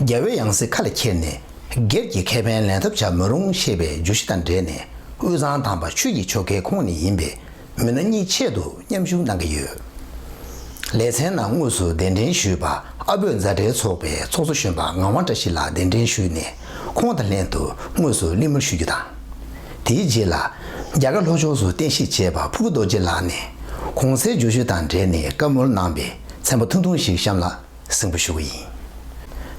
རྒྱལ་བོའི་ཡང་སྲིད་ཁ་ལ་ཁྱེར་ནས་སྒེར་གྱི་ཁེ་ཕན་ལེན་ཐབས་བྱ་མི་རུང་ཞེས་པའི་བརྗོད་གཞི་དང་འབྲེལ་ནས་དབུས་གཙང་དམ་པ་ཆོས་ཀྱི་ཆོ་གའི་ཁོངས་ནས་ཡིན་པའི་མི་སྣ་གཉིས་ཆེད་དུ་མཉམ་ཞུགས་གནང་གི་ཡོད། ལེ་ཚན་ནང་དངོས་སུ་གདན་འདྲེན་ཞུས་པ་ཨ་བོད་མཛའ་འབྲེལ་ཚོགས་པའི་ཚོགས་གཙོ་གཞོན་པ་ངག་དབང་བཀྲ་ཤིས་ལགས་གདན་འདྲེན་ཞུས་ནས་ཁོང་དང་ལྷན་དུ་དངོས་སུ་གླེང་མོལ་ཞུ་རྒྱུ་དང། དེའི་རྗེས་ལ། རྒྱ་གར་ལྷོ་ཕྱོགས་སུ་རྟེན་གཞི་བྱས་པ་ཕུར་བུ་རྡོ་རྗེ་ལགས་ནས་གོང་གསལ་བརྗོད་གཞི་དང་འབྲེལ་ནས་བཀའ་མོལ་གནང་པས་མཚན་པ་ཐུང་ཐུང་ཞིག་བཤམས་ལ། སྲིང་པོ་ཞུ་གི་ཡིན།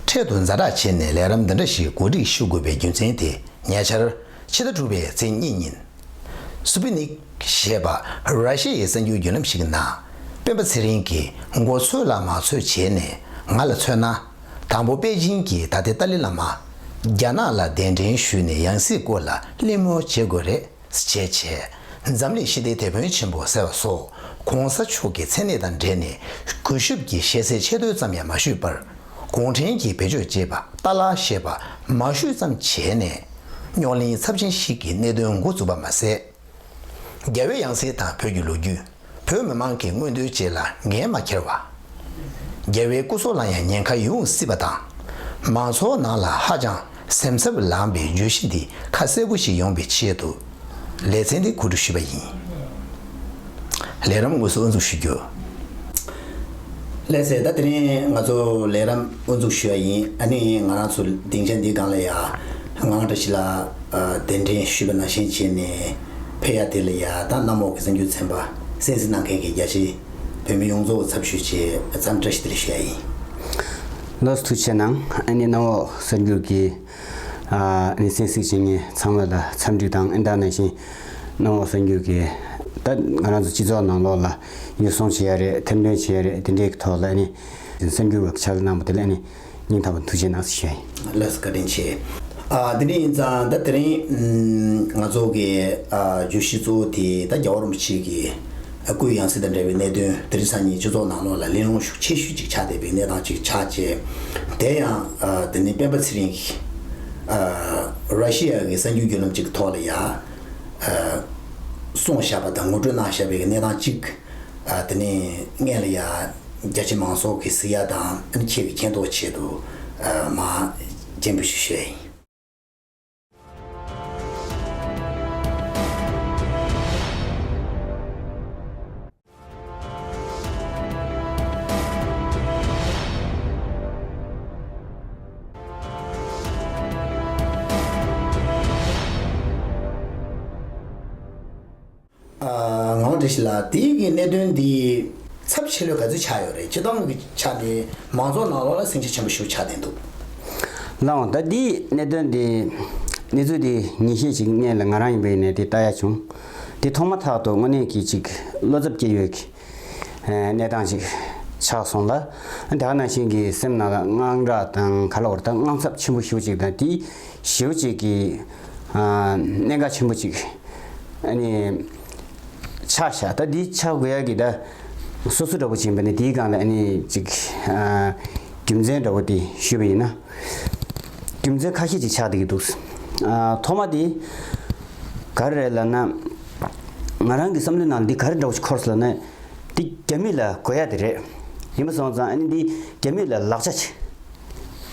འཕྲལ་དུ་མཛའ་གྲགས་བྱས་ནས་ལས་རམ་འདི་འདྲ་ཞིག་གོ་སྒྲིག་ཞུ་དགོས་པའི་རྒྱུ་མཚན་དེ་ཉེ་ཆར། ཕྱི་ཟླ་དྲུག་པའི་ཚེས་གཉིས་ཉིན། Sputnik། ཞེས་པ་ར་ཤི་ཡའི་གསར་འགྱུར་བརྒྱུད་ལམ་ཞིག་ནང། སྤེན་པ་ཚེ་རིང་གིས་མགོ་ཚོས་ལ་མ་ཚོས་བྱས་ནས་ང་ལ་མཚོན་ན། དང་པོ་པེ་ཅིན་གྱིས་ད་ལྟའི་ཏཱ་ལི་བླ་མ། རྒྱ་ནག་ལ་གདན་འདྲེན་ཞུས་ནས་ཡང་སྲིད་སྐོར་ལ་གླེང་མོལ་བྱེད་དགོས་རེད། བྱས་བྱས། འཛམ་གླིང་ཞི་བདེའི་དེད་དཔོན་ཆེན་པོ་ཟེར་བ་སོགས་གོང་ས་མཆོག་གི་མཚན་གནས་དང་འབྲེལ་ནས་གུས་ཞབས་ཀྱིས་ཞལ་ཟས་ཆད་མདོའི་ཙམ་ཡང་མ་ཞུས་པར། གུང་ཁྲན་གྱིས་བེད་སྤྱོད་ཅེས་པ་ཏཱ་ལ་ཞེས་པ་མ་ཞུས་ཙམ་བྱས་ནས། རྙོག་གླེང་ཚབས་ཆེན་ཞིག་གི་གནད་དོན་འགོ་འཛུགས་པ་མ་ཟད། རྒྱ་བོད་ཡང་སྲིད་དང་བོད་ཀྱི་ལོ་རྒྱུས། བོད་མི་མང་གི་མངོན་འདོད་བཅས་ལ་འགན་མ་འཁྱེར་བ། རྒྱལ་བའི་སྐུ་སྲོག་ལ་ཡང་ཉེན་ཁ་ཡོང་སྲིད་པ་དང། མང་ཚོགས་ནང་ལ་ཧ་ཅང་སེམས་འཚབ་ལངས་པའི་བརྗོད་གཞི་འདི་ཁ་གསལ་པོ་ཞིག་ཡོང་པའི་ཆེད་དུ། ལེ་ཚན་འདི་གོ་སྒྲིག་ཞུས་པ་ཡིན། ལས་རམས་དངོས་སུ་དབུ་འཛུགས་ཞུ་རྒྱུ། ལེ་ཚན་ཟླ་དེ་རིང་ང་ཚོ་ལས་རམས་དབུ་འཛུགས་ཞུས་པ་ཡིན། ཨ་ནི་ང་རང་ཚོ་སྡིངས་ཆ་འདི་སྒང་ལ་ཡང་ངང་སྒྲ་ཞིག་ལ་གདན་འདྲེན་ཞུས་པ་ནང་བཞིན་བྱས་ནས། ཕེ་ཡ་ཏེ་ལི་ཡ་དང་གནམ་འོག་གི་གསར་འགྱུར་ཚན་པ་གསན་གཟིགས་གནང་མཁན་གྱི་རྒྱ་ཆེའི་བོད་མི་ཡོངས་གཙོ་བོ་ཚབ་ཞུས་ཆེད་མཚམས་བཀྲ་ཤིས་བདེ་ལེགས་ཞུ་ཡ་ཡིན། ལོ་ཐུག་ཆེ་ནང་ཨ་ནི་གནམ་འོག་གསར་འགྱུར་གྱི་ཨནི་གསན་གཟིགས་བྱེད་མཁན་ཚང་མ་ལ་འཚམས་འདྲི་དང་ཨི་འདའ་ནས་བཞིན་གནམ་འོག་གསར་འགྱུར་གྱི་ད་ང་རང་ཚོ་སྤྱི་ཚོགས་ནང་ལོག་ལ་ཉོ་སོང་བྱེད་ཡ་རེད་ཐེར་འདོན་བྱེད་ཡ་རེད་དེ་འདྲའི་ཐོག་ལ་ཨ་ནི་གསར་འགྱུར་བ་ཁྱབ་གནང་པ་དེ་ལ་ཨ་ནི། སྙིང་ཐག་པ་འཐུ་བྱེད་ནགས་སུ་བྱས། བློས་བཀའ་དྲིན་ཆེ། དེ་ནས་ཡིན་ཙང་ད་དེ་རིང་ང་ཚོ་གི་བརྗོད་གཞི་གཙོ་བོ་དེ་ད་རྒྱ་བ་རིན་པོ་ཆེ་གི་སྐུའི་ཡང་སྲིད་དང་འབྲེལ་བའི་གནད་དོན་དེ་རིང་སང་ཉིན་སྤྱི་ཚོགས་ནང་ལོགས་ལ་གླེང་སློང་ཤུགས་ཆེ་ཤོས་ཅིག་ཆགས་བསྡད་པའི་གནས་སྟངས་ཅིག་ཆགས་རྗེས་དེ་ཡང་དེ་ནི་སྤེན་པ་ཚེ་རིང་གིས་རཱ་ཤི་ཡ་གི་གསར་འགྱུར་བརྒྱུད་ལམ་ཅིག་གི་ཐོག་ལ་ཡར་སོང་བཞག་པ་དང་ངོ་སྤྲོད་གནང་བཞག་པའི་གནས་སྟངས་ཅིག་དེ་ནས་མངལ་ལ་ཡར། རྒྱ་ཆེ་མང་སོགས་ཀྱི་སི་ཡ་དང་ཨིན་ཁྱེ་བའི་མཁྱེན་རྟོགས་ཆེད་དུ་མ་སྤྱན་འབུལ་ཞུ་ཤེས་ཡིན། ངང་བཀྲ་ཤིས་ལགས་དེ་ཡིག་གི་གནད་དོན་འདི་ཚབ་ཆེ་ལོས་ག་ཚོད་ཆགས་ཡོད་རེད་སྤྱི་བཏང་གི་ཆ་ནས་མང་ཚོགས་ནང་ལོག་ལ་སེམས་ཁྱེར་ཆེན་པོ་ཞུ་ཆགས་བསྡད་འདུག། ལགས་འོང་ད་འདིའི་གནད་དོན་འདི་གནས་ཚུལ་འདི་ཉིན་ཤས་ཅིག་གནས་ལ་ང་རང་ཡིན་པའི་ཡིན་ནས་འདི་ལྟ་ཡ་བྱུང། འདི་མཐོང་མ་ཐག་ཏུ་དངོས་གནས་གྱིས་ཅིག་བློ་འཚབ་སྐྱེས་ཡོད། གནས་སྟངས་ཤིག་ཆགས་སོང་ལ། དག་ན་ཤིང་གི་སེམས་ནང་ལ་དངངས་སྐྲག་དང་ག་ལ་བར་དག་དངངས་འཚབ་ཆེན་པོ་ཞུ་གཅིག་དང་དེ་ཞེའུ་གཅིག་གི་གནད་འགག་ཆེན་པོ་ཅིག་ཆགས་ཤག་ད་འདི་ཆགས་དགོས་ཡ་གི་ད་སོ་སོ་འདྲ་བོ་བྱིན་པ་ནི་དེའི་སྒང་ལ་ཅིག་རྒྱུ་མཚན་འདྲ་བོ་དེ་ཞུས་པ་ཡིན་ན། རྒྱུ་མཚན་ཁ་ཤས་ཅིག་ཆགས་བསྡད་ཀྱི་འདུག་ཐོག་མ་དེ་ག་རེ་རེད་ལ་ན། ང་རང་གི་བསམ་བློའི་ནང་འདི་ག་རེ་འདྲ་བོ་ཞིག་འཁོར་སོང་ནས། འདི་རྒྱ་མི་ལ་གོ་ཡ་དེ་རེད། ཡིན་པ་སོང་ཙང་ཨ་ནི་འདི་རྒྱ་མི་ལ་ལག་ཆ། སྤྲད་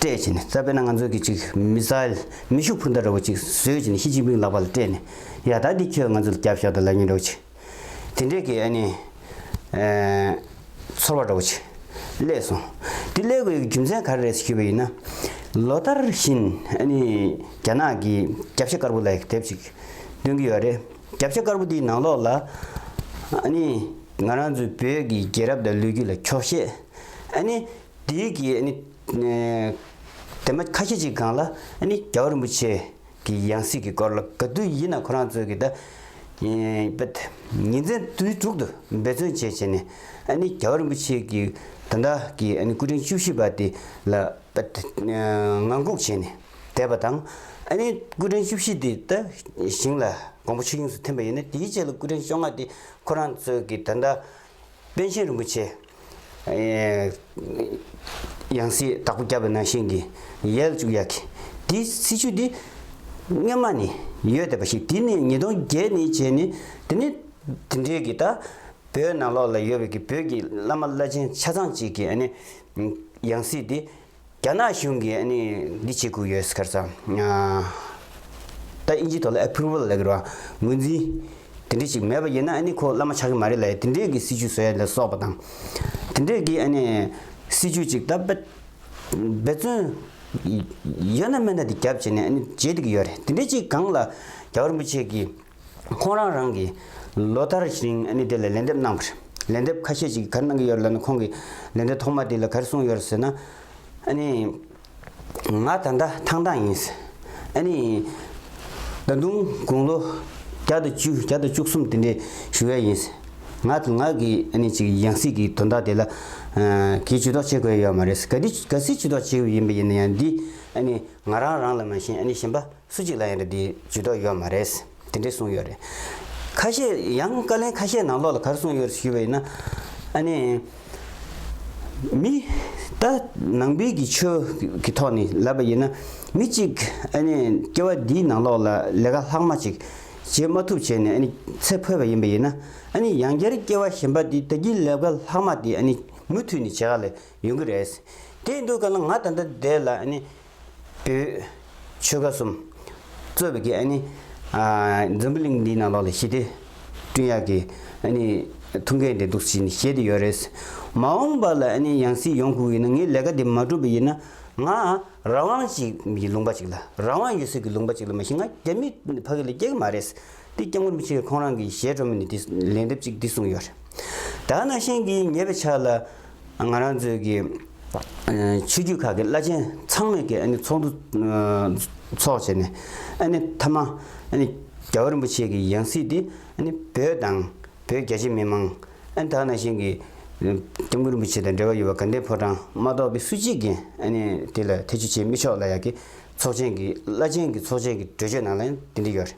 བྱས་ནས་རྩ་བེད་ན་ང་ཚོ་གི་ཅིག་མི་སཱའེལ་མེ་ཤུགས་འཕུར་མདའ་འདྲ་བོ་ཅིག་བཟོས་བྱས་ནས་ཤི་ཅིང་ཕིང་ལག་པ་ལ་སྤྲད་ནས། ཡ་ད་འདི་ཁྱོད་ང་ཚོ་ལ་རྒྱབ་ཤོག་དང་ལ་ཉེ་འདྲ་བོ་ཅིག། དེ་འདྲས་ཀྱི་ཨ་ནི། ཚོར་བ་འདྲ་བོ་ཅིག་བསླེས་སོང། འདི་བསླེས་དགོས་ཡོད་ཀྱི་རྒྱུ་མཚན་ག་རེ་རེད་ཞེས་ཞུས་པ་ཡིན་ན། ལོ་ལྟར་བཞིན་ཨ་ནི་རྒྱ་ནག་གི་རྒྱབ་ཤ་དཀར་པོ་ལ་དེབ་ཅིག། ལོན་གྱི་ཡོད་རེད། རྒྱབ་ལྕགས་དཀར་པོ་དེའི་ནང་ལོགས་ལ། ཨ་ནི། ང་རང་ཚོའི་བོད་ཀྱི་རྒྱལ་རབས་དང་ལོས་རྒྱུས་ལ་འཁྱོག་བཤད། ཨ་ནི། དེའི་དགེ། ཨ་ནི། དེ་མ་ཁ་ཤས་ཅིག་གང་ལ། ཨ་ནི། རྒྱལ་བ་རིན་པོ་ཆེ། གི་ཡང་སྲིད་ཀྱི་སྐོར་ལ་ག་དུས་ཡིན་ན་ཁོ་རང་ཚོས་ཀྱི་ད། ཉིན་མཚན་དུས་དྲུག་ཏུ་འབད་བརྩོན་བྱས་བྱས་ནས། ཨ་ནི། རྒྱལ་བ་རིན་པོ་ཆེ་གི་ད་ལྟ་གི་ཨ་ནི་སྐུ་ཕྲེང་བཅུ་བཞི་པ་དེ་ལ། ངང་སྒུག་བྱས་ནས། བསྡད་པ་དང། ཨ་ནེ་སྐུ་ཕྲེང་བཅུ་བཞི་དེ་ད་ཞིང་ལ་དགོངས་པ་ཆོས་དབྱིངས་སུ་ཐིམ་པ་ཡིན་ན་དེའི་རྗེས་ལ་སྐུ་ཕྲེང་བཅོ་ལྔ་དེ་ཁོ་རང་ཚོས་ཀྱི་ད་ལྟ་དཔལ་ཆེན་རིན་པོ་ཆེ། ཡང་སྲིད་དྭགས་པོ་སྐྱབས་པའི་ནང་བཞིན་གྱི་ཡལ་བཅུག་ཡ་གི། དེ་སྲིད་ཆུ་དེ་སྔོན་མ་ནས་ཡོད་བསྡད་པ་ཞིག་དེ་ནས་ཉིས་སྟོང་བརྒྱད་ནས་བྱས་ནས་དེ་ནས་དེ་འདྲའི་གི་ད་བོད་ནང་ལོགས་ལ་ཡོད་པའི་གི་བོད་ཀྱི་བླ་མ་བླ་ཆེན་ཆ་ཚང་ཅིག་གི་ཨ་ནེ་ཡང་སྲིད་དེ་རྒྱ་ནག་གཞུང་གིས་འདི་བྱེད་དགོས་ཡོད་ཁར་ཙང། ད་ཨིན་ཇི་ཐོག་ལ approval ལགས་ར་ངོས་འཛིན་དེ་འདྲས་ཞིག་མེད་པ་ཡིན་ན་ཁོ་བླ་མ་ཆགས་ཀྱི་མ་རེད་ལ་དེ་འདྲས་ཀྱི་སྲིད་བྱུས་བཟོས་ལ་སོགས་པ་དང། དེ་འདྲས་ཀྱི་སྲིད་བྱུས་ཅིག་ད་འབད་བརྩོན་ཡོད་ན་མེད་ན་དེ་རྒྱབ་བྱས་ནས་བྱེད་དགོས་ཡོད་རེད་དེ་འདྲས་ཅིག་གང་ལ་རྒྱ་གར་རིན་པོ་ཆེ་གི། ཁོང་རང་རང་གིས་ལོ་ལྟར་རིང་ཨ་ནི་དེ་ལ་ལན་འདེབས་གནང་བ་རེད། ལན་འདེབས་ཁ་ཤས་ཅིག་གར་གནང་གི་ཡོད་ལ་ནི་ཁོང་གིས་ལན་འདེབས་ཐོག་མ་དེ་ལ་གར་གསུངས་ཡོད་ཟེར་ན། ཨ་ནི། ང་ད་ལྟ་ཐང་ཐང་ཡིན། ཨ་ནི། ད་དུང་དགུང་ལོ་བརྒྱ་དང་བཅུ་བརྒྱ་དང་བཅུ་གསུམ་དེ་འདྲའི་ཞུ་བས་ཡིན། ང་དང་ང་གི་ཨ་ནི་གཅིག་ཡང་སྲིད་ཀྱི་དོན་དག་དེ་ལ། གིས་ཇུས་གཏོགས་བྱེད་དགོས་ཡོད་མ་རེད། ག་དུས་ག་སྲིད་ཇུས་གཏོགས་བྱེད་འོས་ཡིན་པ་ཡིན་ན་ཡང་འདི་ཨ་ནི་ང་རང་རང་ལ་མ་གཞན་ཨ་ནི་གཞན་པ། སུ་གཅིག་ལ་ཡང་འདྲ་འདི་ཇུས་གཏོགས་ཡོད་མ་རེད། དེ་འདྲས་གསུངས་ཡོད་རེད། ཁ་ཤས་ཡང་བཀའ་ལན་ཁ་ཤས་ནང་ལོགས་ལ་གར་གསུངས་ཡོད་ཞུས་པ་ཡིན་ན། ཨ་ནི། མི། ད་ནང་པའི་གི་ཆོས་གི་ཐོག་ནས་ལབ་པ་ཡིན་ན། མི་གཅིག་ཨ་ནི་སྐྱེ་བ་འདིའི་ནང་ལོགས་ལ་ལས་ཀ་ལྷག་མ་ཅིག་བྱེད་མ་ཐུབ་བྱས་ནས་ཨ་ནི་ཚེ་འཕོས་པ་ཡིན་པ་ཡིན་ན། ཨ་ནི་ཡང་བསྐྱར་སྐྱེ་བ་གཞན་པ་འདི་ད་གིན་ལས་ཀ་ལྷག་མ་དེ་ཨ་ནི་མུ་མཐུད་ནས་བྱེད་ག་ལ་ཡོང་གི་རེད། དེ་འདུག་ག་ལ་ང་ད་ལྟ་འདས་ལ་ཨ་ནི་བདུད། ཆོས་དགའ་གསུམ། རྩོད་པའི་གེགས་ནི། འཛམ་བུ་གླིང་འདིའི་ནང་ལོགས་ལ་ཞི་བདེ། བསྐྲུན་ཡག་གི། ཐུགས་འགན་དེ་འདུག་ཅེས་ནི་བཤད་དེ་ཡོད་རེད། མ་འོངས་པ་ལ་ནི་ཡང་སྲིད་ཡོང་ཁུག་ཡིན་ན་ངས་ལས་ཀ་འདི་མ་བསྒྲུབས་པ་ཡིན་ན། ང། རང་དབང་ཅིག་གི་ལུང་པ་ཅིག་ལ་རང་དབང་ཡོད་ཟེར་གི་ལུང་པ་ཅིག་ལ་མ་གཞི་ང་རྒྱ་མི་ཕ་གི་ལ་སྐྱེ་གི་མ་རེད། འདི་སྐྱེ་དངོས་མི་ཚོས་ཁོང་རང་གི་གཞས་སྒྲོན་མེ་ནས་འདི་ལན་འདེབས་ཅིག་འདི་གསུངས་ཡོད་རེད། ད་ནང་བཞིན་གྱི་ཉེ་བའི་ཆར་ལ། ང་རང་ཚོའི་གི། ཆོས་རྒྱུད་ཁག་གི་བླ་ཆེན་ཚང་མས་གི་ཨ་ནི་ཚོགས་འདུ། ཚོགས་བྱས་ནས། ཨ་ནི་མཐའ་མ། ཨ་ནི་རྒྱ་བོད་རིན་པོ་ཆེ་གི་ཡང་སྲིད་འདི་ཨ་ནི་བོད་དང། བོད་རྒྱ་ཆེ་མི་མང། ཨ་ནི་ད་ནང་བཞིན་གི། སྐྱབས་མགོན་རིན་པོ་ཆེ་དང་འབྲེལ་བ་ཡོད་པ་དགའ་ལྡན་ཕོ་བྲང་མ་གཏོགས་པའི་སུ་གཅིག་གིས་ཨ་ནི་དེ་ལ་ཐེ་བྱུས་བྱེད་མི་ཆོག་ལ་ཡག་གི། ཚོགས་ཆེན་གི་བླ་ཆེན་གི་ཚོགས་ཆེན་གི་གྲོས་ཆོད་ནང་ལ་ཡང་དེ་འདྲ་ཡོད་རེད།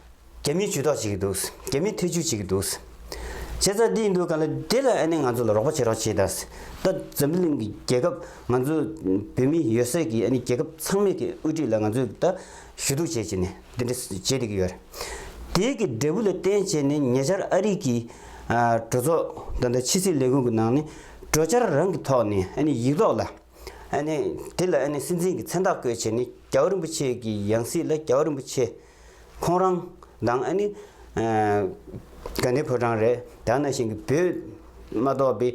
རྒྱ་མིའི་ཇུས་ཏོག་བྱེད་ཀྱི་འདུག་རྒྱ་མིའི་ཐེ་ཇུས་བྱེད་ཀྱི་འདུག། བྱས་ཙང་འདི་ཡིན་འདུག་ག་ལ་དེ་ལ་ཨ་ནེ་ང་ཚོ་ལ་རོགས་པ་བྱེད་རོགས་བྱེད་གདའ། ད་འཛམ་བུ་གླིང་གི་རྒྱལ་ཁབ་ང་ཚོ་བོད་མི་ཡོད་སའི་གི་ཨ་ནེ་རྒྱལ་ཁབ་ཚང་མས་གི་དབུས་སྒྲིག་ལ་ང་ཚོས་ད་ཞུ་གཏུག་བྱེད་བྱེད་ནས་འདི་འདྲ་བྱེད་བསྡད་ཀྱི་ཡོད། དེའི་གི་འབྲས་བུ་ལ་བརྟེན་བྱས་ནས་ཉེ་ཆར་ཨ་རིག་གི་གྲོས་ཚོགས་ད་ལྟ་ཕྱི་སྲིད་ལས་ཁུངས་གི་ནང་ནས་གྲོས་འཆར་རང་གི་ཐོག་ནས་ཨ་ནེ་ཡིག་ཐོག་ལ་ཨ་ནེ་དེ་ལ་ཨ་ནེ་སྲིད་འཛིན་གི་མཚན་རྟགས་བཀོད་བྱས་ནས་རྒྱ་བོ་རིན་པོ་ཆེ་གི་ཡང་སྲིད་ལ་རྒྱ་བོ་རིན་པོ་ཆེ། ཁོང་རང་དང་ཨ་ནི། དགའ་ནི་ཕོ་བྲང་རེད་ད་ན་ཞིང་གི་བོད་མ་གཏོགས་པའི།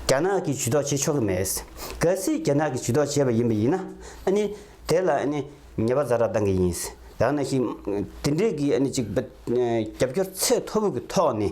རྒྱ་ནག་གི་ཇུས་གཏོགས་བྱེད་ཆོག་གི་མེད། གལ་སྲིད་རྒྱ་ནག་གི་ཇུས་གཏོགས་བྱས་པ་ཡིན་པ་ཡིན་ན་ཨ་ནི། དེ་ལ་ཨ་ནི་ཉེས་པ་ཛ་རག་གཏང་གི་ཡིན། ད་ན་ཞིང། དེ་འདྲས་ཀྱི་ཨ་ནི་ཅིག་རྒྱབ་སྐྱོར་ཚད་མཐོ་པོ་གི་ཐོག་ནས།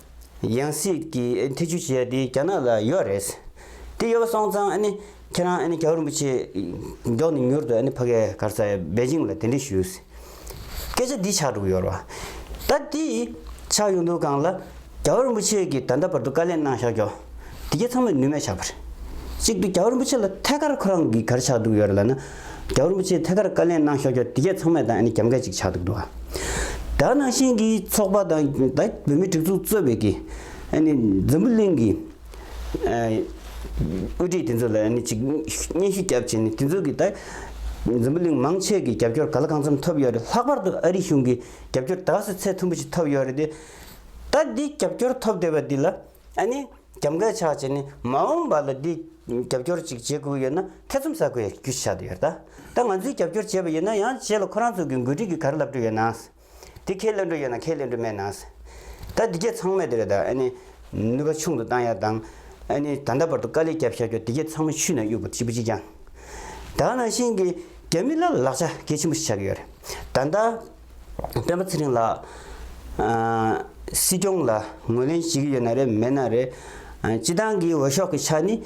ཡང་སྲིད་ཀྱི་ཐེ་ཇུས་བྱས་ཏེ་རྒྱ་ནག་ལ་ཡོད་རེད། དེ་ཡོད་པ་སོང་ཙང་ཁྱེད་རང་རྒྱལ་བ་རིན་པོ་ཆེ་མགྱོགས་ནས་མྱུར་དུ་ཕ་གའི་གར་ས་པེ་ཅིང་ལ་གདན་འདྲེན་ཞུ། སྐད་ཆ་འདི་ཆགས་འགྲོ་གི་ཡོད་རེད་བ། ད་དེ་ཆགས་ཡོང་དུས་གང་ལ་རྒྱལ་བ་རིན་པོ་ཆེ་གིས་ད་ལྟ་བར་དུ་བཀའ་ལན་གནང་བཞག་ཀྱང་དེ་ག་ཚང་མས་ནུས་མེད་ཆགས་པ་རེད། གཅིག་ཏུ་རྒྱལ་བ་རིན་པོ་ཆེ་ལ་ཐད་ཀར་ཁོ་རང་གིས་གར་ཆགས་འདུག་ཡོད་རེད་ལ་ན། རྒྱ་རིན་པོ་ཆེས་ཐད་ཀར་བཀའ་ལན་གནང་ཤོག་ཀྱོ་དེ་གས་ཚང་མས་དང་ཨ་ནི་རྒྱབ་འགལ་ཅིག་ཆགས་འདུག་འདུག་ཨ། དྭགས་ནང་བཞིན་གྱི་ཚོགས་པ་དང་དྭགས་བོད་མིའི་སྒྲིག་འཛུགས་གཙོས་པའི་གི་ཨ་ནི་འཛམ་བུ་གླིང་གི་ཨ་དབུས་སྒྲིག་དེ་ཚོ་ལ་ཨ་ནི་ཅིག་སྙན་ཞུ་རྒྱབ་བྱས་ནས་དེ་ཚོ་གི་དྭགས་འཛམ་བུ་གླིང་མང་ཆས་གི་རྒྱབ་སྐྱོར་ག་ལ་གང་འཚམས་ཐོབ་ཡོད་རེད་ལྷག་པར་དུ་ཨ་རི་གཞུང་གི་རྒྱབ་སྐྱོར་དྭགས་སུ་ཚད་མཐོན་པོ་ཞིག་ཐོབ་ཡོད་རེད་དེ། ད་འདི་རྒྱབ་སྐྱོར་ཐོབ་བསྡད་པ་འདི་ལ་ཨ་ནི། རྒྱབ་འགལ་ཆགས་ཆེ་ནི་མ་འོངས་པ་ལ་འདི་རྒྱབ་སྐྱོར་ཅིག་བྱེད་དགོས་ཡོད་ན་ཐེ་ཚོམ་ཟ་དགོས་ཡ་རྒྱུ་ཆགས་འདུག་ཡ་ད་ད་ང་ཚོའི་རྒྱབ་སྐྱོར་བྱས་པ་ཡོད་ན་ཡང་བྱས་ལ་ཁོ་རང་ཚོ་གི་འགོ་ཁྲིད་ཀྱི་གར་ལབ་འགྲོ་ཡོད་ན་དེ་ཁས་ལེན་འགྲོ་ཡོད་ན་ཁས་ལེན་འགྲོ་མེད་ན་ད་འདི་གས་ཚང་མས་དེ་རེད་ད་ཨ་ནི་ནུས་པ་ཆུང་དུ་བཏང་ཡ་དང་ཨ་ནི་ད་ལྟ་བར་དུ་དཀའ་ལས་བརྒྱབ་ཤག་ཀྱོ་འདི་གས་ཚང་མ་ཆུ་ན་གཡུག་པ་གཅིག་པུ་གཅིག་ཀྱང་ད་ནང་བཞིན་གྱི་རྒྱ་མི་ལ་ལག་ཆ་གལ་ཆེན་པོ་ཞིག་ཆགས་ཀྱི་ཡོད་རེད་ད་ད། སྤེན་པ་ཚེ་རིང་ལགས། སྲིད་སྐྱོང་ལ་ངོས་ལེན་བྱེད་ཀྱི་ཡོད་ན་རེད་མེད་ན་རེད། སྤྱི་བཏང་གི་འོས་ཤོག་གི་ཆ་ནི་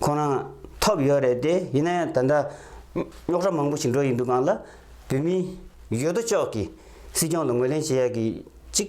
ཁོང་རང་ཐོབ་ཡོད་རེད་དེ་ཡིན་ན་ཡང་ད་ལྟ་རྙོག་གྲ་མང་པོ་ཞིག་འགྲོ་ཡི་འདུག་གང་ལ་བོད་མི་ཡོད་དོ་ཅོག་གིས་སྲིད་སྐྱོང་ལ་ངོས་ལེན་བྱེད་ཡག་གི་གཅིག་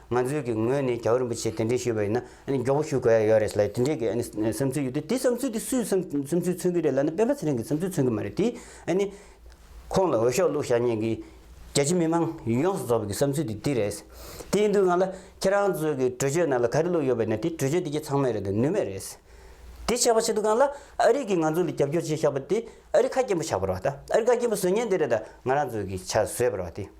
ང་ཚོའི་གི་ངོས་ནས་རྒྱལ་བ་རིན་པོ་ཆེ་དེ་འདྲའི་ཞུས་པ་ཡིན་ན་ཨ་ནི་མགྱོགས་པོ་ཞུ་དགོས་ཡ་ཡོད་རེད་ལ་དེ་འདྲའི་གི་ཨ་ནི་བསམ་ཚུལ་ཡོད་དུས་དེ་བསམ་ཚུལ་དེ་སུས་བསམ་བསམ་ཚུལ་མཚོན་གི་རེད་ལ་ནི་སྤེན་པ་ཚེ་རིང་གི་བསམ་ཚུལ་མཚོན་གི་མ་རེད་དེ་ཨ་ནི། ཁོང་ལ་འོས་ཤོག་བླུག་བཞག་ཉེན་གི། རྒྱལ་སྤྱི་མི་མང་ཡོངས་སུ་རྫོགས་པའི་གི་བསམ་ཚུལ་དེ་འདི་རེད། དེ་ཡིན་དུས་ང་ལ་ཁྱེད་རང་ཚོའི་གི་གྲོས་ཆོད་ནང་ལ་ག་རེ་བླུག་ཡོད་པ་ཡིན་ན་དེ་གྲོས་ཆོད་དེ་ཁྱེད་ཚང་མས་རེད་དེ་ནུས་མེད་རེད། དེ་བྱས་པ་ཆེད་དུ་གང་ལ་ཨ་རིས་གི་ང་ཚོ་ལ་རྒྱབ་སྐྱོར་བྱས་བཞག་པ་དེ་ཨ་རི་ཁ་སྐྱེན་པོ་ཆགས་པར་བ་ད་ཨ་རི་ཁ་སྐྱེན་པོ་བཟོས་ཉེན་དེ་རེད་ད་ང་རང་ཚོའི་གི་ཆ་བཟོས་པར་བ་དེ།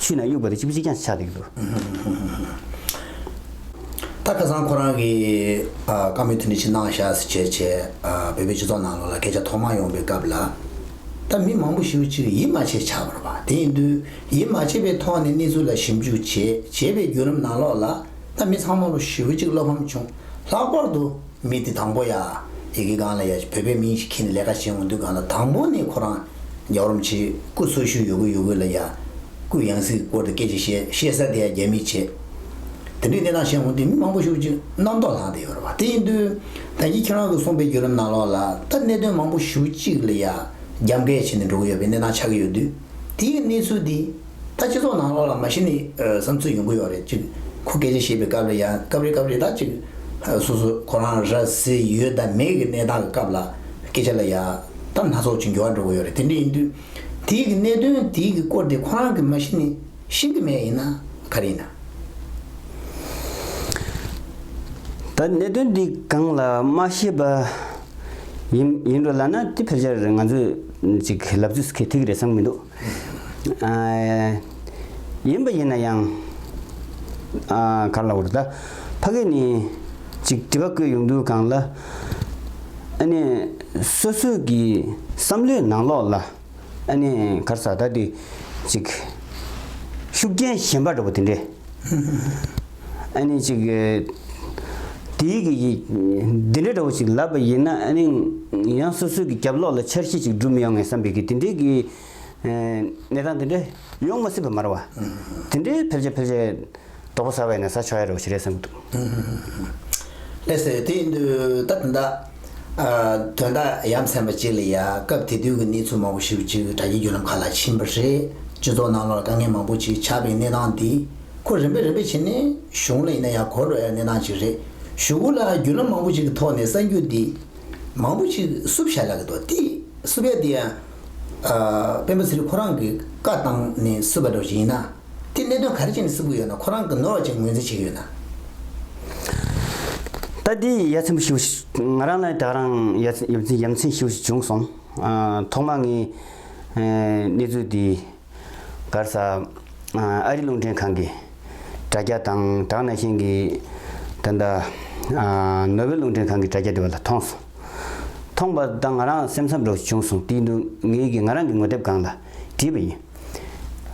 ཆུད་ན་དབྱུག་པ་རེ་གཅིག་པུ་གཅིག་ཀྱང་ཆགས་འདུག་གདའ། ད་ཁ་སང་ཁོ་རང་གི་བཀའ་མོལ་ཐུང་ཐུང་ཞིག་གནང་བཞག་ཟེར་བྱས་བྱས་བོད་པའི་སྤྱི་ཚོགས་ནང་ལོགས་ལ་སྐད་ཆ་ཐོག་མར་ཡོང་པའི་སྐབས་ལ། ད་མི་མང་པོ་ཞིག་གཅིག་གིས་ཡིད་མ་ཆེས་ཆགས་པར་བ་དེ་ཡིན་དུས་ཡིད་མ་ཆེས་པའི་ཐོག་ནས་གནས་ཚུལ་ལ་ཞིབ་འཇུག་བྱས་བྱས་པའི་བརྒྱུད་རིམ་ནང་ལོགས་ལ་ད་མི་ཚང་མ་ལོ་ཞེ་བོ་གཅིག་བློ་ཕམ་བྱུང་ལྷག་པར་དུ། མི་དེ་དང་པོ་ཡ། ཡི་གེ་གང་ལ་ཡ་ཞིག་བོད་པའི་མིང་ཞིག་ཁྱེར་ནས་ལས་ཀ་བྱེད་འོང་དུས་གང་ལ་དང་པོ་ནས་ཁོ་རང། རྒྱ་རོམ་ཆེ། སྐུ་སོ་ཤུ་ཡོད་གོ་ཡོད་གོ་ལ་ཡ། སྐུ་ཡང་སྲིད་ཀྱི་སྐོར་དུ་སྐད་ཅིག་བཤད་བཤད་ས་དེ་ཡ་རྒྱ་མི་བྱེད། དེ་འདྲའི་གནས་སྟངས་བྱེད་འོང་དུས་མི་མང་པོ་ཤུགས་ཀྱིས་རྣམ་རྟོག་ལྷང་དེ་ཡོད་རེད་བ། དེ་ཡིན་དུས། ད་ཁྱེད་ཁྱེད་རང་གི་གསུངས་པའི་བརྒྱུད་ལམ་ནང་ལོགས་ལ་ད་གནད་དོན་མང་པོ་ཞུ་གཅིག་ལ་ཡ། རྒྱ་འགལ་བྱེད་ནས་འགྲོ་གི་ཡོད་པའི་གནས་སྟངས་ཆགས་ཀྱི་ཡོད་དུས། དེའི་གནས་ཚུལ་དེ། ད་སྤྱི་ཚོགས་ནང་ལོགས་ལ་མ་གཞི་ནས་བསམ་ཚུལ་ཡོང་གི་ཡོད་རེད་ཅེས་ཁོ་སྐད་ཆ་བཤད་པའི་སྐབས་ལ་ཡང་སྐབས་རེ་སྐབས་རེ་དང་ཅིག་སོ་སོ་ཁོ་རང་ར་བཟི་ཡོད་དམ་མེད་ཀྱི་གནས་སྟངས་ཀྱི་སྐབས་ལ་སྐད་ཆ་ལ་ཡ་ད་སྣ་ཚོགས་ཅིག་འགྱུར་བ་འགྲོ་གི་ཡོད་རེད་དེ་འདྲ་ཡིན་དུས་དེའི་གི་གནད་དོན་དེའི་གི་སྐོར་དེ་ཁོ་རང་གིས་མ་གཞི་ནས་ཤེས་ཀྱི་མེད་ཡིན་ན་ག་རེ་ཡིན། ད་གནད་དོན་འདི་གང་ལ་མ་ཤེས་པ་ཡིན་འགྲོ་ལ་ན་དེ་ཕལ་ཆེར་ང་ཚོས་ཅིག་ལབ་ཚོད་གི་ཐིག་རེད་བསམ་གྱི་འདུག། ཡིན་པ་ཡིན་ན་ཡང། ག་ལ་བར་ད། ཕ་གི་ནི། ཅིག་དྲི་བ་བཀོད་ཡོང་དུས་གང་ལ། ཨ་ནི། སོ་སོས་ཀྱི། བསམ་བློའི་ནང་ལོགས་ལ། ཨ་ནི། གར་ཟ་ད་དེ། ཅིག། ཤུགས་རྐྱེན་ཞན་པ་འདྲ་བོ་དེ་འདྲས། ཨ་ནི་ཅིག། དེ་ཡི་གེ་ཡིས། འདི་འདྲ་འདྲ་བོ་ཞིག་ལབ་པ་ཡིན་ན་ཨ་ནི། ཡང་སོ་སོའི་གི་རྒྱབ་ལོགས་ལ་འཆར་གཞི་ཅིག་སྒྲུབ་མི་ཡོང་ངེས་བསམ་པའི་གི་དེ་འདྲའི་གི། གནས་སྟངས་དེ་འདྲ་ཡོང་མ་སྲིད་པ་མ་རེད་བ། དེ་འདྲའི་ཕལ་ཆེར་ཕལ་ཆེར། དོག་པོ་ཟ་བས་ནས་ཟ་ཆོག་ཡ་རེད་བ་ཞིག་རེད་བསམ་གྱི་འདུག། ཨེ་སེ་དེ་ཡིན་དུས་ད་དོན་དག། དོན་དག་ཡ་མཚན་པ་ཅིག་ལ་ཡ་སྐབས་དེ་དུས་ཀྱི་གནས་ཚུལ་མང་བོ་ཞིག་ཅིག་དྲ་རྒྱའི་བརྒྱུད་ལམ་ཁག་ལ་ཕྱིན་པ་རེད། སྤྱི་ཚོགས་ནང་ལོགས་དཀའ་ངལ་མང་བོ་ཅིག་ཆགས་པའི་གནས་སྟངས་འདི། ཁོ་རིམ་པས་རིམ་པས་ཕྱིན་ནས་གཞུང་ལ་ཡིན་ན་ཡང་གོ་རོགས་ཡག་གནས་སྟངས་ཅིག་རེད། གཞུག་ལ་རྒྱུས་ལོན་མང་པོ་ཞིག་གི་ཐོག་ནས་གསར་འགྱུར་འདི་མང་པོ་ཞིག་བསུབ་བཞག་ལ་གི་འདུག་དེ་བསུབ་ཡ་དེ་ཡང་སྤེན་པ་ཚེ་རིང་ཁོ་རང་གི་བཀའ་བཏང་ནས་བསུབ་པ་འདྲ་བོ་ཞིག་ཡིན་ན། དེ་གནད་དོན་ག་རེ་བྱས་ནས་བསུབ་གི་ཡོད་ན་ཁོ་རང་གི་ནོར་བ་ཅིག་ངོས་འཛིན་བྱེད་ཀྱི་ཡོད་ན། ད་དེ་ཡ་མཚན་ཞུ་ང་རང་ལ་ད་རང་ཡ་མཚན་ཞུ་བྱུང་སོང། ཐོག་མ་ངས་གནས་ཚུལ་འདི། སྒར་ས། ཨ་རི་རླུང་འཕྲིན་ཁང་གིས་དྲ་རྒྱ་དང་སྦྲགས་ནས་ཤིང་གི། ད་ལྟ། ནོ་བེལ་རླུང་འཕྲིན་ཁང་གི་དྲ་རྒྱ་འདི་བ་ལ་མཐོང་སོང། མཐོང་པ་དང་ང་རང་སེམས་འཚབ་འདྲ་བོ་བྱུང་སོང་དེའི་འདུག་ངེད་ཀྱིས་ང་རང་གི་ངོ་དེབ་སྒང་ལ་བྲིས་པ་ཡིན།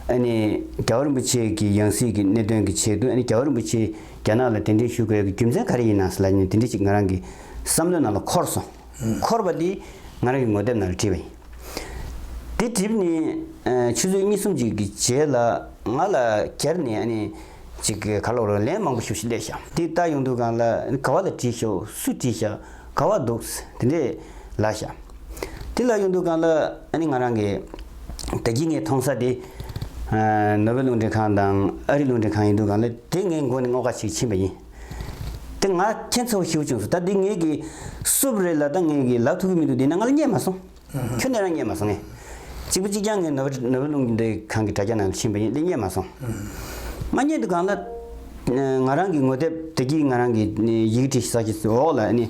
ཨ་ནི། རྒྱ་བོ་རིན་པོ་ཆེ་གི་ཡང་སྲིད་ཀྱི་གནད་དོན་གྱི་ཆེད་དུ་ཨ་ནི་རྒྱ་བོ་རིན་པོ་ཆེ་རྒྱ་ནག་ལ་གདན་འདྲེན་ཞུ་དགོས་ཀྱི་རྒྱུ་མཚན་ག་རེ་ཡིན་ནང་སི་ལ་ནི་དེ་འདྲི་ཅིག་ང་རང་གི་བསམ་བློའི་ནང་ལ་འཁོར་སོང། འཁོར་བ་འདི། ང་རང་གི་ངོ་དེབ་ནང་བྲིས་པ་ཡིན། འདི་གྲིབ་ནི། ཆུ་ཚོད་གཉིས་གསུམ་ཅིག་གི་རྗེས་ལ། ང་ལ་གྱར་ནས་ཨ་ནི། ཅིག་ག་ལོག་རོགས་ལན་མང་པོ་ཞུ་ཞེས་སླད་བཞག། འདི་ལྟ་ཡོང་དུས་གང་ལ་ག་བ་ལ་བྲིས་ཤོག་སུས་བྲིས་ཤག་ག་བ་འདུག་དེ་འདྲས་ལ་བཞག། འདི་ལ་ཡོང་དུས་གང་ལ་ཨ་ནི་ང་རང་གི། ད་གིན་ངའི་མཐོང་ས་འདི། ནོ་བྷེལ་རླུང་འཕྲིན་ཁང་དང་ཨ་རིའི་རླུང་འཕྲིན་ཁང་ཡིན་དུས་གང་ལ་དེ་ངའི་མགོ་ནས་སྔོག་ཁ་ཞིག་ཕྱིན་པ་ཡིན། དེ་ང་ཁྱེད་ཚོ་ཤེའུ་ཆུང་སོ་ད་འདི་ངེད་ཀྱི་སུབ་རེད་ལ་ད་ངེད་ཀྱི་ལག་ཐུག་གི་མི་འདུག་འདི་ན་ང་ལ་བརྙས་མ་སོང། ཁྱོད་ནས་རང་བརྙས་མ་སོང་ངས་གཅིག་པུ་གཅིག་རྐྱང་ངས་ནོར་བུ་ནོར་བུ་ལུང་འདི་གང་གི་དྲ་རྒྱ་ནང་དུ་ཕྱིན་པ་ཡིན་འདི་བརྙས་མ་སོང། ང་བརྙས་འདུག་གང་ལ་ང་རང་གི་ངོ་དེབ་དེ་གྱིས་ང་རང་གི་ཡིག་འབྲི་ས་ཀྱི་འོག་ལ་ནི་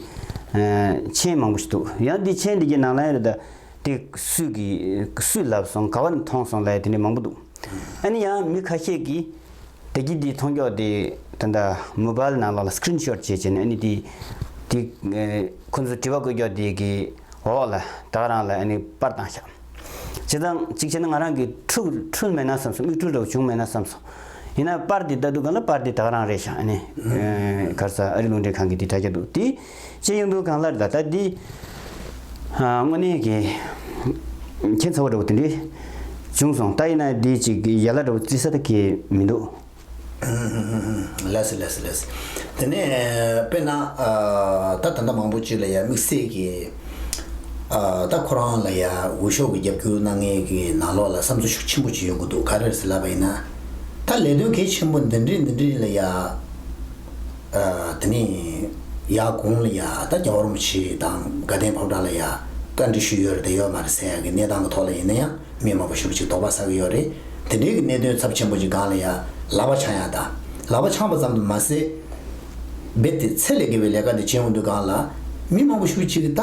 མཆན་མང་པོ་ཞིག་འདུག་ཡང་འདི་མཆན་འདི་གྱི་ནང་ལ་ཡང་རེད་ད་འདི་སུས་གི་སུས་ལབ་སོང་ག་བ་ནས་མཐོང་སོང་ལ་ཡང་དེ་འདྲའི་མང་པོ་འདུག་ཨ་ནི་ཡང་མི་ཁ་ཤས་ཀྱིས། བདེ་སྐྱིད་དེ་མཐོང་མགྱོགས་དེ་ད་ལྟ Mobile ནང་ལ Screen Shot བྱས་བྱས་ནས་ཨ་ནི་དེ་དེ་ཁོ་ཚོ་དྲི་བ་བཀོད་མགྱོགས་དེ་གི་འོག་ལ་ད་ག་རང་ལ་ཨ་ནི་པར་བཏང་ཤག་བྱེད་དང་གཅིག་བྱས་ན་ང་རང་གི་ཁྲུག་ཁྲུལ་མེད་ན་བསམ་སོང་མིག་ཁྲུལ་འདྲ་བོ་བྱུང་མེད་ན་བསམ་སོང་ཡིན་ན་པར་དེ་ལྟ་འདུག་ག་ལ་པར་དེ་ད་ག་རང་རེད་ཤག་ཨ་ནི་གར་ས་ཨ་རི་རླུང་འཕྲིན་ཁང་གི་དེ་དྲ་རྒྱ་འདུག་དེ། ཅེས་གཡུང་དྲུང་གངས་ལྷར་ད་ལྟ་འདི། དངོས་གནས་ཀྱི། མཁྱེན་ཚ་བོ་འདྲ་བོ་དེ་འདྲས། བྱུང་སོང་ད་ཡིན་ན་འདི་ཅིག་ཡལ་ལ་འདྲ་བོ་བརྩི་ས་ད་གི་མི་འདུག། ལེགས་སོ་ལེགས་སོ་ལེགས་སོ། དེ་ནས་དཔེར་ན། ད་ད་ལྟ་མང་པོ་ཅིག་ལ་ཡང་དམིགས་བསལ་གྱི། ད་ཁོ་རང་ལ་ཡང་འོས་ཤོག་གི་རྒྱབ་སྐྱོར་གནང་མཁན་གྱི་ནང་ལོགས་ལ་བསམ་ཚུལ་ཤུགས་ཆེན་པོ་ཅིག་ཡོང་གི་འདུག་ག་རེ་རེད་ཟེར་ལབ་པ་ཡིན་ན། ད་ལས་དོན་གལ་ཆེན་པོ་འདི་འདྲས་འདི་འདྲས་ལ་ཡང། དེ་ནས་ཡག་གུང་ལ་ཡ་ད་རྒྱ་བོར་མོ་ཆེ་དང་དགའ་ལྡན་ཕོ་བྲང་ལ་ཡ་བཀའ་འདྲི་ཞུས་ཡོད་རེད་དེ་ཡོད་མ་རེད་སའི་གི་གནས་སྟངས་གི་ཐོག་ལ་ཡིན་ན་ཡང་མི་མང་པོ་ཞུ་བ་ཅིག་དོག་པ་ཟ་གི་ཡོད་རེད་དེ་འདྲའི་གི་གནས་དོན་ཚབ་ཆེན་པོ་ཅིག་སྒང་ལ་ཡ་ལག་པ་འཆང་ཡ་ད་ལག་པ་འཆང་པ་ཙམ་དུ་མ་ཟད་རྦད་དེ་ཚད་ལས་བརྒལ་བའི་ལས་ཀ་འདི་བྱེད་འོང་དུས་སྒང་ལ་མི་མང་པོ་ཞུ་ཅིག་གི་ད་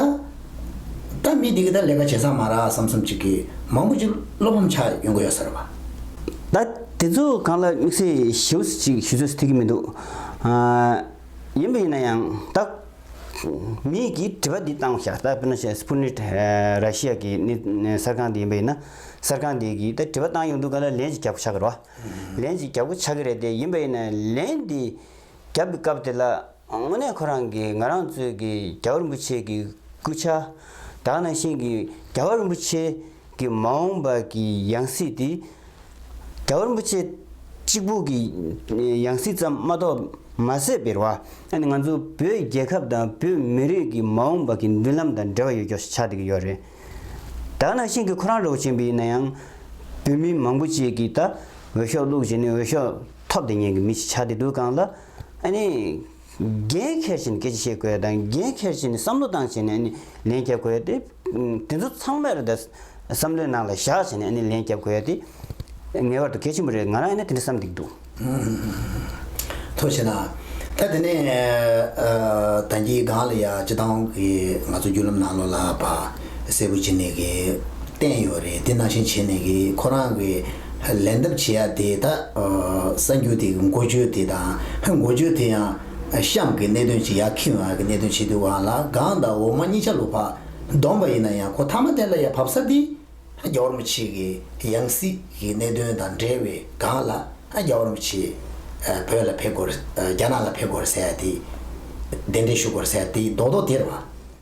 ད་མི་འདི་གི་ད་ལས་ཀ་བྱེད་ཚང་མ་ར་བསམ་བསམ་ཅིག་གི་མང་པོ་ཅིག་བློ་ཕམ་ཆགས་ཡོང་གི་ཡོད་ཟེར་བ། ད་དེ་ཚོ་སྒང་ལ་དམིགས་བསལ་ཞེ་བོ་ཅིག་ཞུ་ཚོད་ཐིག་གི་མི་འདུག་ཡིན་པ་ཡིན་ན་ཡང་བདག་མེད་ཀྱི་དྲི་བ་འདི་བཏང་བཞག་ད་དཔེར་ན་བཤད Sputnik ར་ཤི་ཡ་གི་གསར་ཁང་དེ་ཡིན་པ་ཡིན་ན་གསར་ཁང་དེ་གིས་ད་དྲི་བ་བཏང་ཡོང་འདུག་ག་ལ་ལན་ཅིག་རྒྱག་གོ་ཆག་གི་རོགས། ལན་ཅིག་རྒྱག་གོ་ཆག་གི་རེད་དེ་ཡིན་པ་ཡིན་ན་ལན་དེ་རྒྱབ་པའི་སྐབས་དེ་ལ་དངོས་གནས་ཁོ་རང་གིས་ང་རང་ཚོའི་གི་རྒྱལ་བ་རིན་པོ་ཆེ་གི་སྐུ་ཕྱྭ་དག་ནང་བཞིན་གྱི་རྒྱལ་བ་རིན་པོ་ཆེ་གི་མ་འོངས་པ་གི་ཡང་སྲིད་དེ། རྒྱ་བོར་པོ་ཆེ་གཅིག་པུ་གི་ཡང་སྲིད་ཙམ་མ་གཏོགས་མ་ཟད་པིར་བ། ཨ་ནི་ང་ཚོ་བོད་རྒྱལ་ཁབ་དང་བོད་མི་རིགས་ཀྱི་མ་འོངས་པ་གི་མདུན་ལམ་དང་འབྲེལ་བ་ཡོད་ཀྱོ་ཆགས་ཀྱི་ཡོད་རེད། དག་ན་ཤིང་གི་ཁོ་རང་རོགས་བྱེད་པི་ཡིན་ན་ཡང། བོད་མི་མང་པོ་ཅིག་གིས་ད་འོས་ཤོག་བླུགས་བྱས་ནས་འོས་ཤོག་ཐོབ་དེ་ཉན་གི་མི་ཞིག་ཆགས་དེ་འདུག་གང་ལ། ཨ་ནི། འགན་འཁྱེར་བཞིན་སྐད་ཆ་བཤད་དགོས་དང་འགན་འཁྱེར་བཞིན་བསམ་བློ་བཏང་བྱས་ནས་ནི་ལན་བརྒྱབ་དགོས་ཏེ། དེ་ཚོ་ཚང་མར་བསམ་བློའི་ནང་ལ་བཞག་བྱས་ནས་ནི་ལན་བརྒྱབ་དགོས་ཏེ། ངེས་བར་དུ་གལ་ཆེན་པོ་རེད་ང་རང་ཡིན་ན་དེ་འདྲ་བསམ་སྡིགས་འདུག། ཐུགས་ཆེ་ན། ད་དེ་ནས་ད་འགྱིག་སྒང་ལ་ཡ་སྤྱི་ཏང་གི་ང་ཚོ་རྒྱུད་ལམ་ནང་ལོ་ལ་བ་སེར་བུ་བྱེད་ནས་གི་བསྟན་ཡོད་རེད་དེ་ནང་བཞིན་བྱེད་ནས་གི་ཁོ་རང་གི་ལན་གདབ་བྱེད་ཡ་དེ་དག་གསར་འགྱུར་དེ་གི་འགོ་བརྗོད་དེ་དང་འགོ་བརྗོད་དེ་ཡང་གཤམ་གྱི་གནད་དོན་ཅིག་ཡ་ཁི་ཝང་གི་གནད་དོན་ཆེ་དུས་ཝང་ལ་གང་དང་འོག་མ་གཉིས་ཆ་ལུགས་བག་བསྡོམས་པ་ཡིན་ན་ཡང་ཁོ་ཐ་མ་དེ་ལ་ཡ་བབས་ས་དེ་རྒྱ་བོར་མི་ཆེ་གི་ཡང་སྲིད་གི་གནད་དོན་དང་འབྲེལ་བའི་གང་ལ་རྒྱ་བོར་མི་ཆེ་བོད་ལ་ཕེབས་དགོས་རྒྱ་ནག་ལ་ཕེབས་དགོས་ཟེར་ཡ་དེ་གདན་འདྲེན་ཞུ་དགོས་ཟེར་ཡ་དེ་རྡོག་རྡོག་དེར་བ།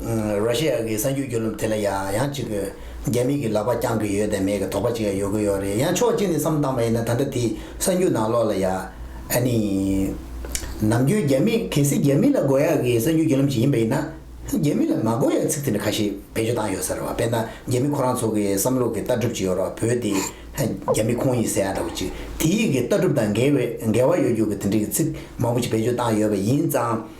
ར་ཤི་ཡ་གི་གསར་འགྱུར་བརྒྱུད་ལམ་དེ་ལ་ཡང་ཡང་གཅིག་པུས་རྒྱ་མིས་ཀྱི་ལག་པ་བརྐྱང་གི་ཡོད་དང་མེད་ཀྱི་དོགས་པ་ཅིག་ཡང་ཡོད་ཀྱི་ཡོད་རེད་ཡང་ཕྱོགས་གཅིག་ནས་བསམ་བཏང་བ་ཡིན་ན་ད་ལྟ་དེའི་གསར་འགྱུར་ནང་ལོགས་ལ་ཡ་ཨ་ནི་ནམ་རྒྱུན་རྒྱ་མི་གལ་སྲིད་རྒྱ་མི་ལ་དགོས་ཡག་གི་གསར་འགྱུར་བརྒྱུད་ལམ་ཞིག་ཡིན་པ་ཡིན་ན་རྒྱ་མི་ལ་མ་དགོས་ཡག་ཚིག་དེ་འདྲ་ཁ་ཤས་བེད་སྤྱོད་བཏང་ཡོད་ས་རེད་བ་དཔེར་ན་རྒྱ་མི་ཁོ་རང་ཚོ་གི་བསམ་བློ་གི་ལྟ་གྲུབ་ཅིག་ཡོད་རོགས་བོད་དེ་རྒྱ་མི་ཁོང་ཡིག་ཟེར་ཡག་འདྲ་བོ་ཅིག་དེ་ཡིག་གི་ལྟ་གྲུབ་དང་འགལ་བའི་འགལ་བ་ཡོད་རྒྱུ་གི་དེ་འདྲ་གི་ཚིག་མང་བོ་ཅིག་བེད་སྤྱོད་བཏང་ཡོད་པ་ཡིན་ཙང།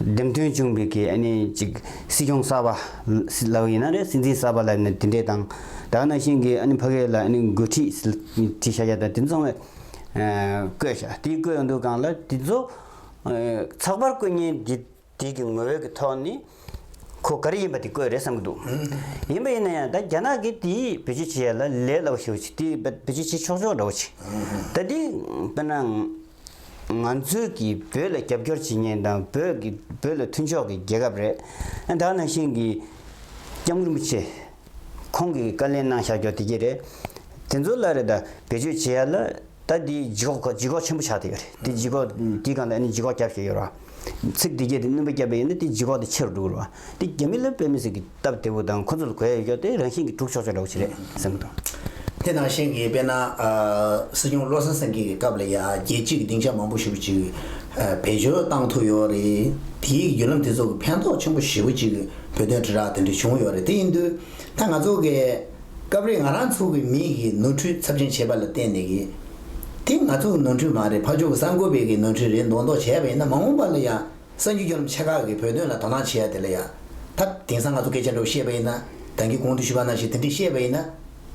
འདེམས་ཐོན་བྱུང་བའི་གི་ཨ་ནི་ཅིག་སྲིད་སྐྱོང་གསར་པ། ལགས་ཡིན་ན་རེད་སྲིད་འཛིན་གསར་པ་ལ་ནི་དེ་འདྲས་དང། ད་གནའ་ཤིང་གི་ཨ་ནི་ཕ་གས་ལ་ཨ་ནི་འགོས་ཁྲིས་ཁྲིས་ཤ་ཤ་དང་དེ་མཚུངས་བས། བསྐོས་ཤ་དེ་བསྐོས་ཡོང་འདུག་གང་ལ་དེ་ཚོ། ཚགས་པར་བསྐོས་ཉེན་དེ་དེ་གི་ངོ་བོས་གི་ཐོག་ནི། ཁོ་ག་རེ་ཡིན་པ་དེ་བསྐོས་རེད་བསམ་གི་འདུག་ཡིན་པ་ཡིན་ན་ཡང་ད་རྒྱ་ནག་གི་དེ་བེད་སྤྱོད་བྱེད་ཡ་ལ་ལས་སླ་བོ་ཞིག་བྱེད་དེ་བེད་སྤྱོད་བྱེད་ཆོག་ཆོག་འདྲ་བོ་བྱེད། ད་དེ་དཔེར་ན། ང་ཚོས་ཀྱི་བོད་ལ་རྒྱབ་སྐྱོར་བྱེད་ཉེན་དང་བོད་ཀྱི་བོད་ལ་མཐུན་ཕྱོགས་ཀྱི་རྒྱལ་ཁབ་རེད། ད་ནང་བཞིན་གྱི་སྐྱབས་མགོན་པོ་ཆེ་ཁོང་གིས་བཀའ་ལན་གནང་བཞག་ཀྱོག་དེ་གྱི་རེད། དེ་ཚོ་ལ་རེད་ད་བེད་སྤྱོད་བྱེད་ཡ་ལ་ད་དེ་ལྗིད་ཁོག་ལྗིད་ཁོག་ཆེན་པོ་ཆགས་དེ་ཡོད་རེད་དེ་ལྗིད་ཁོག་དེ་གང་ད་ནི་ལྗིད་ཁོག་རྒྱབ་བཞེད་ཡོད་ར། ཚིག་འདི་སྐད་དེ་བསྣུན་པ་བསྐྱབས་པས་ཡིན་ན་དེ་ལྗིད་ཁོག་དང་ཆེ་རུ་འགྲོ་གི་རེད། འདི་རྒྱ་མི་ལོས་དཔེ་མི་སྲིད་གི་སྟབས་བདེ་པོ་དང་ཁོ་ཚོ་ལ་གོ་ཡ་ཡོད་ཀྱོག་དེ་རང་བཞིན་གྱིས་གྲུབ་ཆོག་ཆོག་འདྲ་བོ་ཞིག་རེད་བསམ་གྱི་འདུག། དེ་དང་གཞན་གྱིས་དཔེར་ན། སྲིད་སྐྱོང་བློ་བཟང་སེང་གེ་གི་སྐབས་ལ་ཡ་རྒྱལ་སྤྱི་གི་སྡིངས་ཆ་མང་པོ་ཞིག་པོ་ཅིག་བེད་སྤྱོད་བཏང་ཐུབ་ཡོད་རེད། དེའི་བརྒྱུད་ལམ་དེ་ཚོ་གི་ཕན་ཐོགས་ཆེན་པོ་ཞིག་པོ་ཅིག་བོད་དོན་དྲིལ་བསྒྲགས་དེ་འདྲ་བྱུང་ཡོད་རེད་དེ་ཡིན་དུས་ད་ང་ཚོ་གས། སྐབས་རེ་ང་རང་ཚུགས་ཀྱི་མིག་གིས་ནོར་འཁྲུལ་ཚབས་ཆེན་བྱས་པ་ལ་བརྟེན་ནས་ཀྱི། དེ་ང་ཚུགས་ཀྱི་ནོར་འཁྲུལ་མ་རེད་ཕ་ཕྱུག་གི་གསར་འགོད་པའི་གི་ནོར་འཁྲུལ་རེད་མདོག་མདོག་བྱས་པ་ཡིན་ན་མ་འོངས་པ་ལ་ཡང་གསར་འགྱུར་སྐྱོར་རིམ་ཆེ་ཁག་གིས་བོད་དོན་ལ་དོ་སྣང་བྱེད་ཡ་དེ་ལ་ཡ་ད། དེང་སང་ང་ཚོ་སྐད་ཆ་འདྲ་བོ་བཤད་པ་ཡིན་ན་གང་གི་གོང་དུ་ཞུ་བ་ན་ཞིག་དེ་འདྲས་བཤད་པ་ཡིན་ན།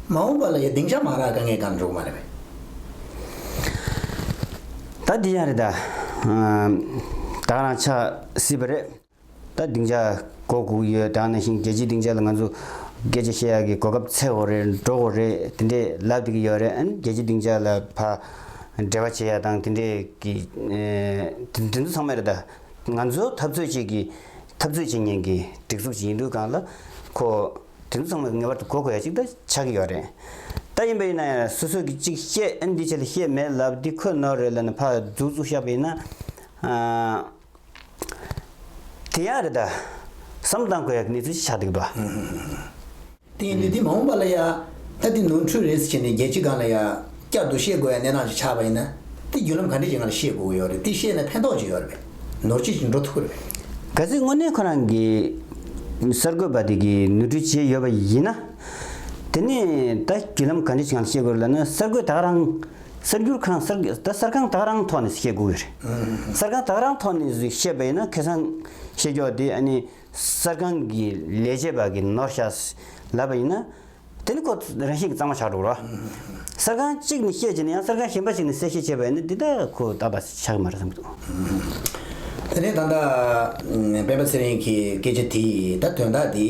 མ་འོངས་པ་ལ་ཡ་སྡིངས་ཆ་མ་རག་དཀའ་ངལ་གང་འགྲོ་གི་མ་རེད་པས། ད་དེ་ཡང་རེད་ད། བདག་རང་ཆགས་སྲིད་པ་རེད། ད་སྡིངས་ཆ་གོ་གུག་ཡོད་དྲག་ན་ཞིང་རྒྱལ་སྤྱིའི་སྡིངས་ཆ་ལ་ང་ཚོ་སྐད་ཆ་བཤད་ཡག་གི་གོ་སྐབས་ཚད་འོ་རེ་འགྲོ་གོ་རེ་དེ་འདྲས་ལབ་ཏུ་གི་ཡོད་རེད་ཨན་རྒྱལ་སྤྱིའི་སྡིངས་ཆ་ལ་ཕ་འབྲེལ་བ་བྱེད་ཡག་དང་དེ་འདྲས་གི་དེ་ཚོ་ཚང་མ་རེད་ད་ང་ཚོ་འཐབ་རྩོད་བྱེད་གི་འཐབ་རྩོད་བྱེད་ཉན་གི་སྒྲིག་འཛུགས་ཅིག་ཡིན་དུས་གང་ལ་ཁོ་དེ་ཚོ་ཚང་མ་ངེས་པར་དུ་གོ་གོ་ཡག་ཅིག་ད་ཆགས་གི་ཡོད་རེད་ད་ཡིན་པ་ཡིན་ན་ཡང་སོ་སོ་གི་ཅིག་བཤད་ཨན་འདི་བྱས་ལ་བཤད་མེད་ལབ་འདི་ཁོ་ནོར་རེད་ལབ་ན་ཕ་རྫུག་རྫུག་བཤགས་པ་ཡིན་ན། དེ་ཡང་རེད་ད། ཟམ་གདང་དགོས་ཡག་གི་གནས་ཚུལ་ཅི་ཆགས་འདུག་ད། དེ་ཡིན་དུས་དེ་མ་འོངས་པ་ལ་ཡ། ད་དེ་ནོར་འཁྲུལ་རེད་ཟེར་བྱས་ནས་རྒྱལ་སྤྱི་སྒང་ལ་ཡ། བསྐྱར་དུ་བཤད་དགོས་ཡ་གནས་སྟངས་ཅིག་ཆགས་པ་ཡིན་ན། དེ་བརྒྱུད་ལམ་ག་འདྲས་ཀྱིས་ང་ལ་བཤད་དགོས་ཀྱི་ཡོད་རེད་དེ་བཤད་ན་ཕན་ཐོགས་ཅིག་ཡོད་རེད་པས། ནོར་ཅིག་ཅིག་འགྲོ་ཐུབ་ཀྱི་རེད་པས། གལ་སྲིད་དངོས་གནས་ཁོ་རང་གི། གསར་འགོད་པ་དེ་གིས་ནོར་འཁྲུལ་བྱས་ཡོད་པ་ཡིན་ན། དེ་ནས་ད་བརྒྱུད་ལམ་ག་འདྲས་ཅིག་ང་ལ་བཤད་དགོས་རེད་ལབ་ན་གསར་འགོད་ད་ག་རང། གསར་འགྱུར་ཁང་གསར་ད་གསར་ཁང་དག་རང་ཐོག་ནས་བཤད་དགོས་ཀྱི་རེད། གསར་ཁང་དག་རང་ཐོག་ནས་བཤད་པ་ཡིན་ན་ཁེ་སང་བཤད་རྒྱོག་དེ་ཨ་ནི་གསར་ཁང་གི་ལས་བྱེད་པ་གི་ནོར་ཤ་ལབ་པ་ཡིན་ན། དེ་ནི་ཁོ་རང་བཞིན་གྱི་གཙང་མ་ཆགས་འགྲོ་གི་རོ། གསར་ཁང་གཅིག་ནས་བཤད་བྱས་ན་ཡང་གསར་ཁང་གཞན་པ་ཞིག་ནས་གསལ་བཤད་བྱས་པ་ཡིན་ན་འདི་དག་ཁོ་ད་ལྟ་ཆགས་ཀྱི་མ་རེད་བསམ་གྱི་འདུག། དེ་ནས་ད་ལྟ་སྤེན་པ་ཚེ་རིང་གི་སྐད་ཆ་དེ་ད་དོན་དག་འདི།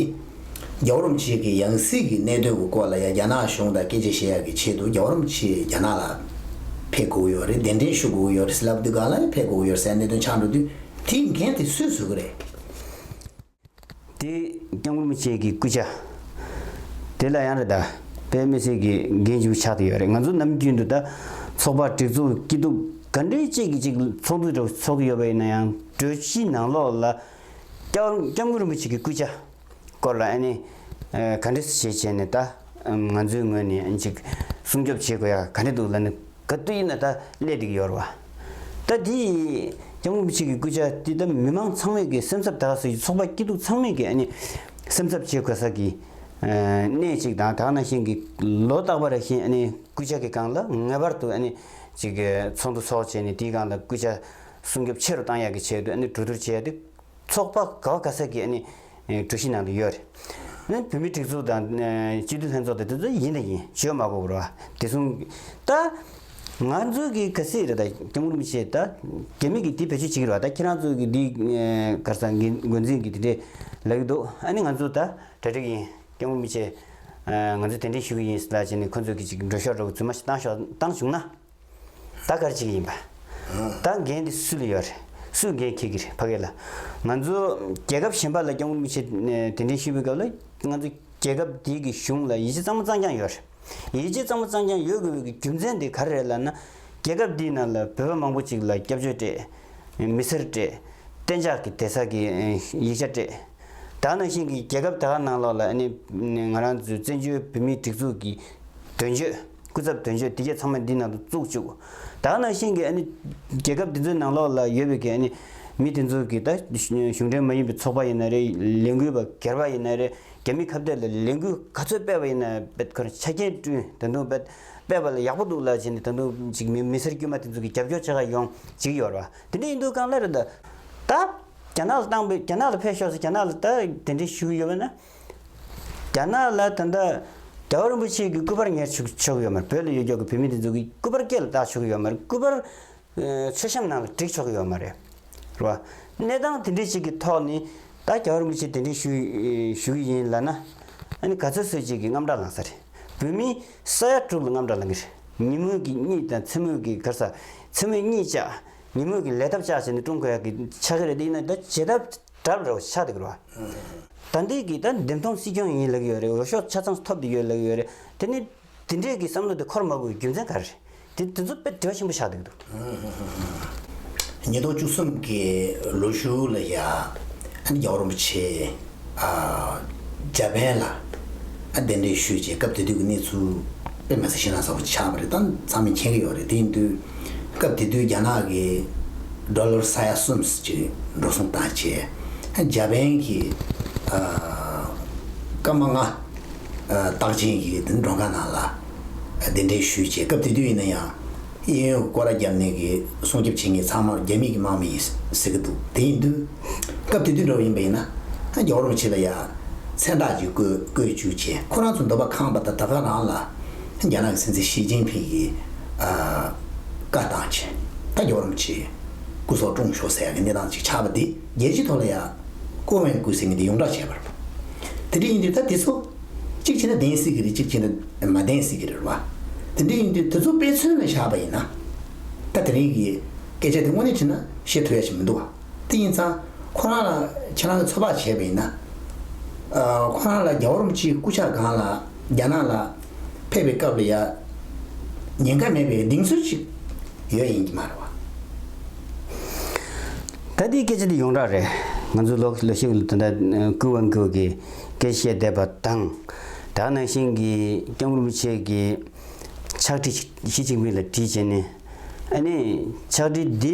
རྒྱ་བོད་རོམ་ཕྱེད་ཀྱི་ཡང་སྲིད་ཀྱི་གནད་དོན་གྱི་སྐོར་ལ་ཡང་རྒྱ་ནག་གཞུང་དང་སྐད་ཆ་བཤད་ཡག་གི་ཆེད་དུ་རྒྱ་བོད་རོམ་ཕྱེད་རྒྱ་ནག་ལ་ཕེབས་དགོས་ཡོད་རེད་གདན་འདྲེན་ཞུ་དགོས་ཡོད་རེད་ཟེར་ལབ་དུས་གང་ལ་ཡང་ཕེབས་དགོས་ཡོད་ཟེར་གནད་དོན་ཆགས་འགྲོ་དུས་དེ་མཁན་དེ་སུས་བཟོས་གི་རེད། དེ་རྐྱང་བོད་མི་བཅས་ཀྱི་སྐུ་ཕྱྭ། དེ་ལ་ཡང་རེད་ད་བོད་མི་བཅས་ཀྱི་འགན་ཞུ་ཆགས་ཏུ་ཡོད་རེད་ང་ཚོ་ནམ་རྒྱུན་དུ་ད་ཚོགས་པ་སྒྲིག་འཛུགས་སྐྱིད་སྡུག་ག་འདྲའི་བཅས་ཀྱི་ཅིག་ཚོགས་འདུ་འདྲ་བོ་ཚོགས་ཀྱི་ཡོད་པ་ཡིན་ན་ཡང་གྲོས་གཞི་ནང་ལོགས་ལ། སྐྱབས་མགོན་རིན་པོ་ཆེ་གི་སྐུ་ཕྱྭ་སྐོར་ལ་ཨ་ནི་ག་འདྲེ་བྱས་བྱས་ནས་ད་ང་ཚོའི་ངོས་ནས་ཅིག་སྲུང་སྐྱོབ་བྱེད་དགོས་ཡ་ག་འདྲེ་འདུག་ལ་ནི་ག་དུས་ཡིན་ན་ད་སླད་འགྲིག་ཡོད་ར་བ། ད་དེ་ཡིས་སྐྱབས་མགོན་རིན་པོ་ཆེ་གི་སྐུ་ཕྱྭ་དེ་ད་མི་མང་ཚང་མས་ཀྱི་སེམས་འཚབ་ད་ག་སོ་ཡི་ཚོགས་པ་སྐྱིད་སྡུག་ཚང་མས་ཀྱི་ཨ་ནི་སེམས་འཚབ་བྱེད་དགོས་ས་གི་གནས་ཅིག་དང་དག་ན་ཤིང་གི་ལོ་རྟག་པ་ར་བཞིན་ཨ་ནི་སྐུ་ཕྱྭ་གི་སྒང་ལ་ངེས་པར་དུ་ཨ་ནི་ཅིག་ཚོགས་འདུ་ཚོགས་བྱས་ནས་དེའི་སྒང་ལ་སྐུ་ཕྱྭ་སྲུང་སྐྱོབ་ཆེ་རུ་གཏང་ཡག་གི་ཆེད་དུ་གྲོས་བསྡུར་བྱས་ཏེ། ཚོགས་པ་ག་བ་ག་ས་ཀྱི་གྲོས་གཞི་ནང་དུ་ཡོད་རེད། བུད་མེད་སྒྲིག་འཛུགས་དང་སྤྱི་འཐུས་ལྷན་ཚོགས་དང་དེ་ཚོ་ཡིན་དང་ཡིན་ཞོལ་མ་གོ་བར་བ་དེ་སྲུང། ད། ང་ཚོ་གི་ག་སི་རེད་ད་སྐྱབས་མགོན་མི་ཆེ་ད་རྒྱ་མི་གི་དེ་བེད་སྤྱོད་བྱེད་ཀྱི་རེད་བ་ད་ཁྱེད་རང་ཚོ་གི་དེ་གར་ས་འགན་འགོ་འཛིན་གི་དེ་འདྲས་ལབ་ཀྱི་འདུག་ཨ་ནི་ང་ཚོ་ད་གྲ་སྒྲིག་ཡིན་སྐྱབས་མགོན་མི་ཆེ། ང་ཚོ་དེ་འདྲས་ཞུ་གི་ཡིན་ལ་བྱས་ནས་ཁོ་ཚོ་གི་ཅིག་འགྲོ་ཤོག་འགྲོ་གི་རྫུན་མ་ཞིག་བཏང་ཤོག་བཏང་བྱུང་ན། ད་གར་གཅིག་ཡིན་པ། ད་འགན་དེ་སུ་ལ་ཡོད་རེད། སུས་འགན་འཁྱེར་གྱི་རེད་ཕ་གི་ལ། ང་ཚོ་རྒྱལ་ཁབ་གཞན་པ་ལ་སྐྱོང་མགོ་མི་ཆེ། དེ་འདྲའི་ཤི་བོའི་སྐབས་ལ་ང་ཚོ་རྒྱལ་ཁབ་དེ་གི་གཞུང་ལ་ཡིད་ཆེ་གཙང་མ་གཙང་རྐྱང་ཡོད་རེད། ཡིད་ཆེ་གཙང་མ་གཙང་རྐྱང་ཡོད་དགོས་པའི་རྒྱུ་མཚན་དེ་ག་རེ་རེད་ལབ་ན། རྒྱལ་ཁབ་དེའི་ནང་ལ་བོད་པ་མང་པོ་ཅིག་ལ་སྐྱབས་བཅོལ་སྤྲད། མི་སེར་སྤྲད། གཏན་འཇགས་ཀྱི་དེ་ས་གི་ཡིག་ཆ་སྤྲད། དག་ནང་བཞིན་གྱི་རྒྱལ་ཁབ་དེ་ག་ནང་ལོགས་ལ་ཨ་ནི་ང་རང་ཚོའི་བཙན་བྱོལ་བོད་མིའི་སྒྲིག་འཛུགས་ཀྱི། དོན་བརྗོད། སྐུ་ཚབ་དོན་བརྗོད་དེ་གས་ཚང་མ་འདི་ནང་དུ་བཙུགས་བཅུག། དག་ནང་བཞིན་གྱི་ཨ་ནི། རྒྱལ་ཁབ་དེ་ཚོའི་ནང་ལོགས་ལ་ཡོད་པའི་གྱི་ཨ་ནི། མི་དེ་ཚོ་གྱི་ད། གཞུང་འབྲེལ་མ་ཡིན་པའི་ཚོགས་པ་ཡིན་ན་རེ། ལས་འགུལ་བ་སྒེར་བ་ཡིན་ན་རེ། རྒྱ་མི་ཁ་བརྡའི་ལ་ལས་འགུལ་ག་ཚོད་སྤེལ་བ་ཡིན་ན་བེད་ཁར་ཆ་རྐྱེན་བསྐྲུན་ད་དུང་བེད། སྤེལ་བ་ལ་ཡག་པོ་འདུག་ལ་བྱས་ནས་ད་དུང་ཅིག་མི་མི་སེར་དཀྱུས་མ་དེ་ཚོ་གྱི་རྒྱབ་སྐྱོར་ཆེ་ཁ་ཡོང། ཅིག་ཡོར་བ། དེ་འདྲ་ཡིན་འདུག་གང་ལ་རེ་ད། ད། རྒྱ་ནག་ལ་བཏང་བས་རྒྱ་ནག་ལ་ཕེབས་ཤོག་ཟེར་རྒྱ་ནག་ལ་ད་དེ་འདྲའི་ཞུ་གི་ཡོད་པ་ན། རྒྱ་ནག་ལ་ད་ལྟ་རྒྱལ་བ་རིན་པོ་ཆེའི་གི་སྐུ་པར་ཉར་ཆུག་ཆོག་གི་ཡོད་མར་བོད་ལ་ཡོད་རྒྱག་གི་བོད་མི་དེ་ཚོ་གི་སྐུ་པར་སྐད་ལ་བཏགས་ཆོག་གི་ཡོད་མར་སྐུ་པར། མཚོད་བཤམས་ནང་ལ་བསྒྲིགས་ཆོག་གི་ཡོད་མ་རེད། རེད་བ། གནས་སྟངས་དེ་འདྲས་ཅིག་གི་ཐོག་ནི་ད་རྒྱལ་བ་རིན་པོ་ཆེ་དེ་འདྲས་ཞུ་ཞུ་གི་ཡིན་ལ་ན། ཨ་ནི་ག་ཚོད་ཚོད་ཅིག་གི་རྔམ་སྐྲག་ལངས་ས་རེད། བོད་མི་ས་ཡ་དྲུག་ལ་རྔམ་སྐྲག་ལངས་གི་རེད། ཉིན་མོ་གི་གཉིད་དང་མཚན་མོ་གི་གར་ས། མཚན་མོ་གཉིད་བཅག། ཉིན་མོ་གི་ལས་ཐབས་བཅག་བྱས་ནས་ཀྲུང་གོ་ཡག་གི་ཆག་གི་རེད་དེ་ཡིན་ན་ད་ཇི་ལྟར་གྲབས་རོགས་ཆ་རེག་ལ། ད་འདི་གི་ད་འདེམས་ཐོང་སྲིད་སྐྱོང་ཡིན་ལགས་ཡོད་རེད་འོ་ཤོག་ཆ་ཚང་ཐོབ་འདི་ཡོད་ལགས་ཡོད་རེད་དེ་ནི་དེ་འདྲས་ཀྱི་བསམ་བློ་དེ་འཁོར་མ་དགོས་རྒྱུ་མཚན་ག་རེ་རེད་དེ་དེ་ཚོ་དཔེ་དྲི་བ་ཆེན་པོ་ཆགས་འདུག་འདུག། ཉིས་སྟོང་བཅུ་གསུམ་གྱི་ལོ་ཞུགས་ལ་ཡ་ཨན་རྒྱ་བོར་རིན་པོ་ཆེས་རྒྱ་བན་ལ་གདན་འདྲེན་ཞུས་རྗེས་སྐབས་དེ་དུས་ཀྱི་གནས་ཚུལ་དཔེ་མ་ཟིན་ཤེས་ན་བཟང་བོ་ཆགས་པ་རེད་ད་ཚང་མས་མཁྱེན་གྱི་ཡོད་རེད་དེ་ཡིན་དུས། སྐབས་དེ་དུས་རྒྱ་ནག་གི་སྒྲོ་ལོར་ས་ཡ་གསུམ་གྱི་འགྲོ་སོང་བཏང་རྗེས་འཇར་པན་གྱི་སྐར་མ་ལྔ་རྟགས་ཅན་གྱི་འགྲོ་ཁང་ནང་ལ་གདན་འདྲེན་ཞུས་རྗེས་སྐབས་དེ་དུས་ཡིན་ན་ཡང་གཡས་གཡོན་སྐོར་ར་བརྒྱབ་ནས་ཀྱི་སྲུང་སྐྱོབ་བྱེད་མཁན་ཚང་མར་རྒྱ་མིས་ཀྱི་དམག་མི་ཡིན་ཟེར་གྱི་འདུག་དེ་ཡིན་དུས་སྐབས་དེ་དུས་འགྲོ་བ་ཡིན་པ་ཡིན་ན་རྒྱ་བོར་མི་བྱེད་པ་ཡ་མཚན་རྟགས་ཀྱིས་བཀོད་བཀོད་བཅུག་རྗེས་ཁོ་རང་ཚོ་འདོད་པ་ཁང་པ་དང་དར་ཁ་རང་ལ། རྒྱ་ནག་གི་སྲིད་འཛིན་ཞི་ཅིན་ཕིང་གིས་བཀའ་བཏང་ཆེད་བཀའ་རྒྱ་རོམ་གྱིས་སྐུ་སྲོག་བཀྲོངས་ཆོག་ཟེར་ཡག་གི་གནས་སྟངས་ཅིག་ཆགས་པ་འདི་རྒྱལ་སྤྱིའི་ཐོག་ལ་ཡང་ཀོ་ཝེན་སྐུའི་སྲིད་མི་འདི་ཡོངས་གྲགས་བྱས་པ་རེད། དེ་འདྲ་ཡིན་དུས་ད་དེ་ཚོ་གཅིག་བྱས་ན་བདེན་སྲིད་ཀྱི་རེད་གཅིག་བྱས་ན་མ་བདེན་སྲིད་ཀྱི་རེད་བ། དེ་འདྲ་ཡིན་དུས་དེ་ཚོ་དཔེ་མཚོན་ལ་བཞག་པ་ཡིན་ན་ད་དེ་རིང་གི་སྐད་ཆ་འདི་དངོས་གནས་བྱས་ན་བཤད་ཐུབ་ཡག་ཞིག་མི་འདུག་བ། དེ་ཡིན་ཙང་ཁོ་རང་ལ་ཁྱེད་རང་གི་ཚོད་དཔག་བྱས་པ་ཡིན་ན། ཁོ་རང་ལ་རྒྱ་བོར་མི་སྤྱིའི་སྐུ་ཕྱྭ་སྒང་ལ་རྒྱ་ནག་ལ་ཕེབས་པའི་སྐབས་ལ་ཡང་ཉེན་ཁ་མེད་པའི་གདེང་ཚོད་ཅིག་ཡོད་ཡིན་གྱི་མ་རེད་བ། ད་ལྟའི་སྐད་ཆ་འདི་ཡོངས་གྲགས་རེད། ང་ཚོའི་ལོ་ཤས་ཀྱི་ལོ་ཟླ་འདི་འདྲ་ཀུན་དབང་ཀུན་གྱིས་སྐད་བཤད་བསྡད་པ་དང། དག་ནང་བཞིན་གྱི་སྐྱབས་མགོན་པོ་ཆེ་གྱི་ཕྱག་བྲིས་ཞིག་ཞི་ཅིང་ཕིང་ལ་བྲིས་བྱས་ནས། ཨ་ནི་ཕྱག་བྲིས་འདི།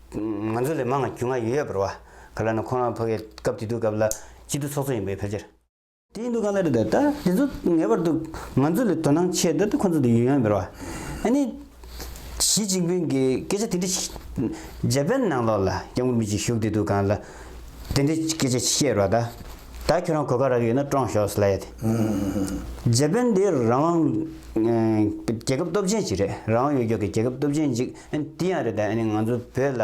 ང་ཚོ་ལས་མང་ང་རྒྱུས་མངའ་ཡོད་ཡོད་པར་བ་ག་ལ་ནི་ཁོ་རང་ཕོ་གའི་སྐབས་དེ་དུས་སྐབས་ལ་སྐྱིད་སྡུག་ཚོགས་ཚོགས་ཡིན་པའི་ཕལ་ཆེར། དེ་ཡིན་འདུག་གང་ལ་རེད་ད་དེ་ཚོ་ངེས་པར་དུ་ང་ཚོ་ལས་དོ་སྣང་ཆེ་ད་དེ་ཁོ་ཚོ་དེ་ཡོད་ཡོད་པར་བ་ཨ་ནི། ཞི་ཅིང་ཕིང་གིས་སྐད་ཆ་དེ་འདྲ་ཞིག་རྗ་པན་ནང་ལོགས་ལ་སྐྱབས་མགོན་མི་གཅིག་བཞུགས་དེ་དུས་གང་ལ་དེ་འདྲའི་སྐད་ཆ་བཤད་རོགས་ད་ད་ཁྱོད་རང་གོ་ག་རག་གི་ཡོད་ན་བཀྲོངས་ཞོགས་སླ་ཡ་དེ། རྗ་པན་དེ་རང་དབང་རྒྱལ་ཁབ་སྟོབས་ཆེན་ཞིག་རེད་རང་དབང་ཡོད་མགྱོགས་ཀྱི་རྒྱལ་ཁབ་སྟོབས་ཆེན་ཅིག། དེ་ཡང་རེད་ད་ང་ཚོ་བོད་ལ་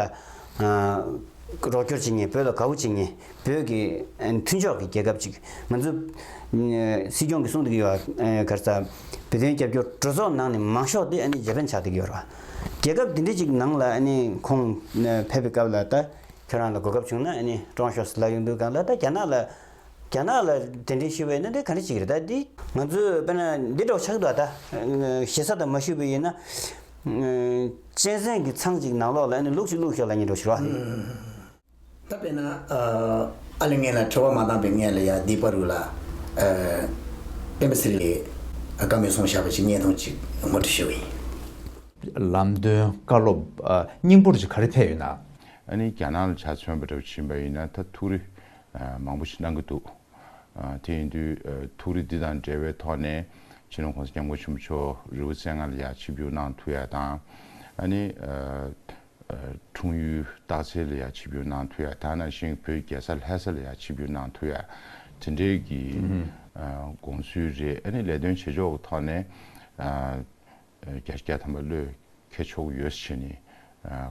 རོགས་སྐྱོར་བྱེད་ངེས་བོད་ལ་དགའ་བོ་བྱེད་ངེས་བོད་ཀྱི་མཐུན་ཕྱོགས་ཀྱི་རྒྱལ་ཁབ་ཅིག་ང་ཚོ་སྲིད་སྐྱོང་གིས་གསུང་དེ་གི་ཡོད་ག་རེ་ད་བོད་དོན་རྒྱབ་སྐྱོར་གྲོས་ཚོགས་ནང་ནས་མང་ཤོག་དེ་རྗེ་པན་ཆགས་དེ་གི་ཡོད་ར་རྒྱལ་ཁབ་དེ་འདྲ་ཅིག་ནང་ལ་ཁོང་ཕེབས་པའི་སྐབས་ལ་ད་ཁྱོད་རང་ལ་གོ་སྐབས་བྱུང་ན་ཀྲོང་ཤོས་སུ་ལ་ཡོང་དུས་གང་ལ་ད་རྒྱ་ནག་ལ་རྒྱ་ནག་ལ་དེ་འདྲའི་ཤི་བའི་སྣོན་འདྲེན་ག་འདྲ་ཞིག་རེད་ད་འདི། ང་ཚོས་དཔེར་ན་འདི་འདྲ་བ་ཆགས་འདུག་ད། ཞེ་ས་དང་མ་ཞུས་པའི་ཡིན་ན། གཅན་གཟན་གྱི་ཚང་ཅིག་ནང་ལོགས་ལ་ཨེ་ནས་ལུག་ཅིག་བླུགས་ཤོག་ལ་ཉེ་འགྲོ་ཞེས་རོགས་ཨ། ད་དཔེར་ན། ཨ་ལས་ངན་ལ་ཁྲེལ་བ་མ་བཏང་པའི་ངན་ལ་ཡང་སྡིག་པ་རུ་ལ། སྤེན་པ་སིལ་ལེ། བཀའ་མོལ་སོང་བཞག་པ་ཅིག་བརྙན་ཐུང་ཅིག་ངོ་སྤྲོད་ཞུ་བ་ཡིན། ལམ་སྟོན་བཀའ་སློབ་སྙིང་པོར་ཅིག་ག་རེ་ཕེབས་ཡོད་ན། ཨ་ནི་རྒྱ་ནག་ལ་ཆ་མཚོན་པ་འདྲ་བོ་བྱིན་པ་ཡིན་ན་ད་ཐུགས་རེ་མང་པོ་ཞིག་གནང་གི་འདུག་དེ་ཡིན་དུས་ཐུགས་རེ་འདི་དང་འབྲེལ་བའི་ཐོག་ནས་ཕྱི་ནང་གོང་ས་སྐྱབས་མགོན་ཆེན་པོ་མཆོག་རི་བོ་རྩེ་ལྔ་ལ་ཡར་ཆིབས་བསྒྱུར་གནང་ཐུགས་ཡག་དང། ཨ་ནི། འཁྲུངས་ཡུལ་སྟག་རྩེ་ལ་ཡར་ཆིབས་བསྒྱུར་གནང་ཐུགས་ཡག་ད་ནང་བཞིན་བོད་རྒྱལ་ས་ལྷ་ས་ལ་ཡར་ཆིབས་བསྒྱུར་གནང་ཐུགས་ཡག་དེ་འདྲའི་གི་དགོངས་ཚུལ་རེད་ཨ་ནི་ལས་དོན་བྱེད་ཕྱོགས་ཀྱི་ཐོག་ནས། རྒྱ་སྐྱེགས་དམ་པ་བློས་འཁེལ་ཆོག་གི་ཡོད་ཟེར་བྱས་ནས་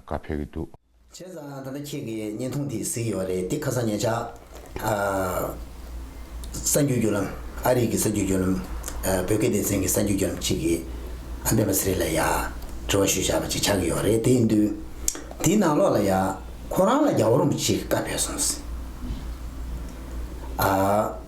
བཀའ་ཕེབས་ཀྱི་འདུག། བྱས་ཙང་ད་ལྟ་ཁྱེད་ཀྱི་བརྙན་ཐུང་དེ་གཟིགས་ཡོད་རེད་དེ་ཁ་སང་ཉེ་ཆར་ཨ་རིགས་ཀྱི་བརྒྱུད་ལམ་ཨ་རིགས་ཀྱི་གསར་འགྱུར་བརྒྱུད་ལམ་བོད་སྐད་སྡེ་ཚན་གྱི་གསར་འགྱུར་བརྒྱུད་ལམ་ཅིག་གིས་ཨ་འབེན་པ་སི་རེ་ལ་ཡ་དྲི་བ་ཞུ་བཞག་པ་ཅིག་ཆགས་ཀྱི་ཡོད་རེད་དེ་ཡིན་དུས་དེའི་ནང་ལོགས་ལ་ཡ་ཁོ་རང་ལ་རྒྱ་བོར་མོ་ཅིག་གི་བཀའ་ཕེབས་སོང་ཟེར།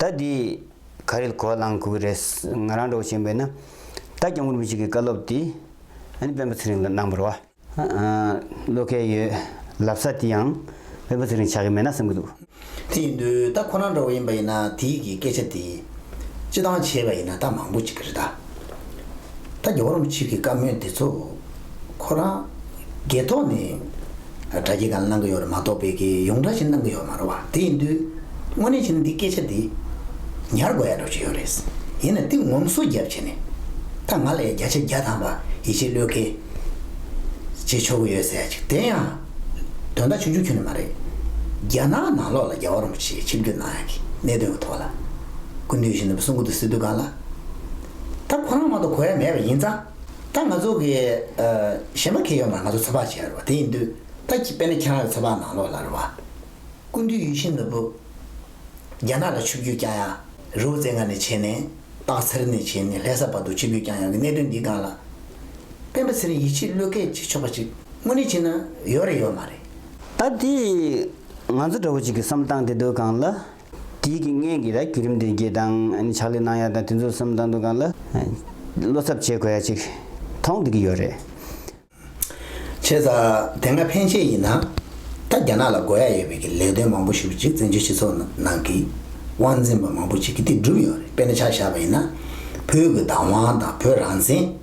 ད་འདི་ག་རེད་གོ་བ་ལང་དགོས་ཀྱི་རེད། ང་རང་འགྲོ་བཞིན་པས་ན། ད་སྐྱབས་མགོན་པོ་ཞིག་གི་བཀའ་སློབ་འདི། ཨ་ནི་དཔོན་པོ་ཚེ་རིང་ལ་གནང་བར་བ། བློ་ཁེལ་ཡོད། ལབ་ས་དེ་ཡང། དཔོན་པོ་ཚེ་རིང་ཆགས་ཀྱི་མེད་ན་བསམ་གྱི་འདུག། དེ་ཡིན་དུས་ད་ཁོ་རང་འགྲོ་བ་ཡིན་པ་ཡིན་ན་དེའི་གི་སྐད་ཆ་དེ། སྤྱི་བཏང་བྱས་པ་ཡིན་ན་ད་མང་པོ་ཅིག་གི་རེད་ད། ད་རྒྱ་བོ་རོམ་ཆུས་ཀྱི་བཀའ་མོལ་འདི་ཚོ་ཁོ་རང་རྒས་ཐོག་ནས་དྲ་རྒྱའི་སྒང་གནང་གི་ཡོད་རེད་མ་གཏོགས་བལ་གྱི་ཡོངས་གྲགས་ཆེད་གནང་གི་ཡོད་མ་རེད་བ་དེ་ཡིན་དུས་དངོས་གནས་བྱས་ན་འདི་སྐད་ཆ་འདི་ཉར་དགོས་ཡག་འགྲོ་ཆུ་ཡོད་རེད་ཡིན་ན་དེ་ངོམ་སོ་རྒྱབ་བྱས་ནས་ད་ང་ལ་ཡང་བརྒྱ་ཆ་བརྒྱ་ཐམ་པ་ཡིད་ཆེས་བློས་འཁེལ་བྱེད་ཆོག་གི་ཡོད་ཟེར་ཅིག་དེ་ཡང་དོན་དག་ཆུང་ཆུང་ཁྱོན་ནས་མ་རེད་རྒྱ་ནག་ནང་ལོགས་ལ་རྒྱ་བོ་རོམ་ཆུས་ཆིབས་བསྒྱུར་གནང་ཡག་གི་གནད་དོན་གྱི་ཐོག་ལ་སྐུ་མདུན་གཞོན་ནུ་བསུ་འགོ་དུ་སི་ཏུ་སྒང་ལ། ད་ཁོ་རང་མང་དུ་གོ་ཡ་མེད་པ་ཡིན་ཙང། ད་ང་ཚོ་གི་གཞས་མ་གལ་ཡོང་ན་ང་ཚོ་ཚོད་དཔག་བྱེད་ཡ་རོ་དེ་ཡིན་དུས་ད་དཔེ་ན་ཁྱེད་རང་ལ་ཚོད་དཔག་ནང་ལོག་ལ་རོ་བ། ཀུན་འདུས་ཡུལ་ཤིང་ནོར་བུ། རྒྱ་ནག་ལ་ཆུ་རྒྱུས་བསྐྱངས་ཡ་རི་བོ་རྩེ་ལྔ་ནས་བྱེད་ནས་སྟག་འཚེར་ནས་བྱེད་ནས་ལྷས་ས་བར་དུ་ཆུ་རྒྱུས་བསྐྱངས་ཡ་གི་གནད་དོན་འདི་སྒང་ལ། སྤེན་པ་ཚེ་རིང་ཡིད་ཆེས་བློས་འཁེལ་བྱེད་ཆོག་པ་ཅིག་དངོས་གནས་བྱེད་ན་ཡོད་རེད་ཡོད་མ་རེད། ད་དེ་ང་ཚོ་འདྲ་བོ་ཅིག་གི་བསམ་སྟངས་དེ་སྡོད་སྒང་ལ། དེའི་གི་ངན་གི་ར་གི་རིམ་དེ་གི་དང་ནི་ཕྱག་ལས་གནང་ཡ་དང་དེ་ཚོ་སུམ་དང་དུ་གང་ལ་བློ་ཚབ་བྱེད་དགོས་ཡ་ཅིག་ཐོང་དེ་གི་ཡོད་རེད། བྱས་ཙང་དེ་སྔ་ཕན་ཆད་ཡིན་ན་ད་རྒྱ་ནག་ལ་དགོས་ཡ་ཡོད་པའི་གི་ལས་དོན་མང་པོ་ཞུ་བ་ཅིག་བཙན་བྱོལ་སྤྱི་ཚོགས་ནང་གི་དབང་འཛིན་པ་མང་པོ་ཅིག་གི་དེ་བསྒྲུབས་ཡོད་རེད་དཔེར་ན་ཆ་བཞག་པ་ཡིན་ན་བོད་གི་བདག་དབང་དང་བོད་རང་བཙན།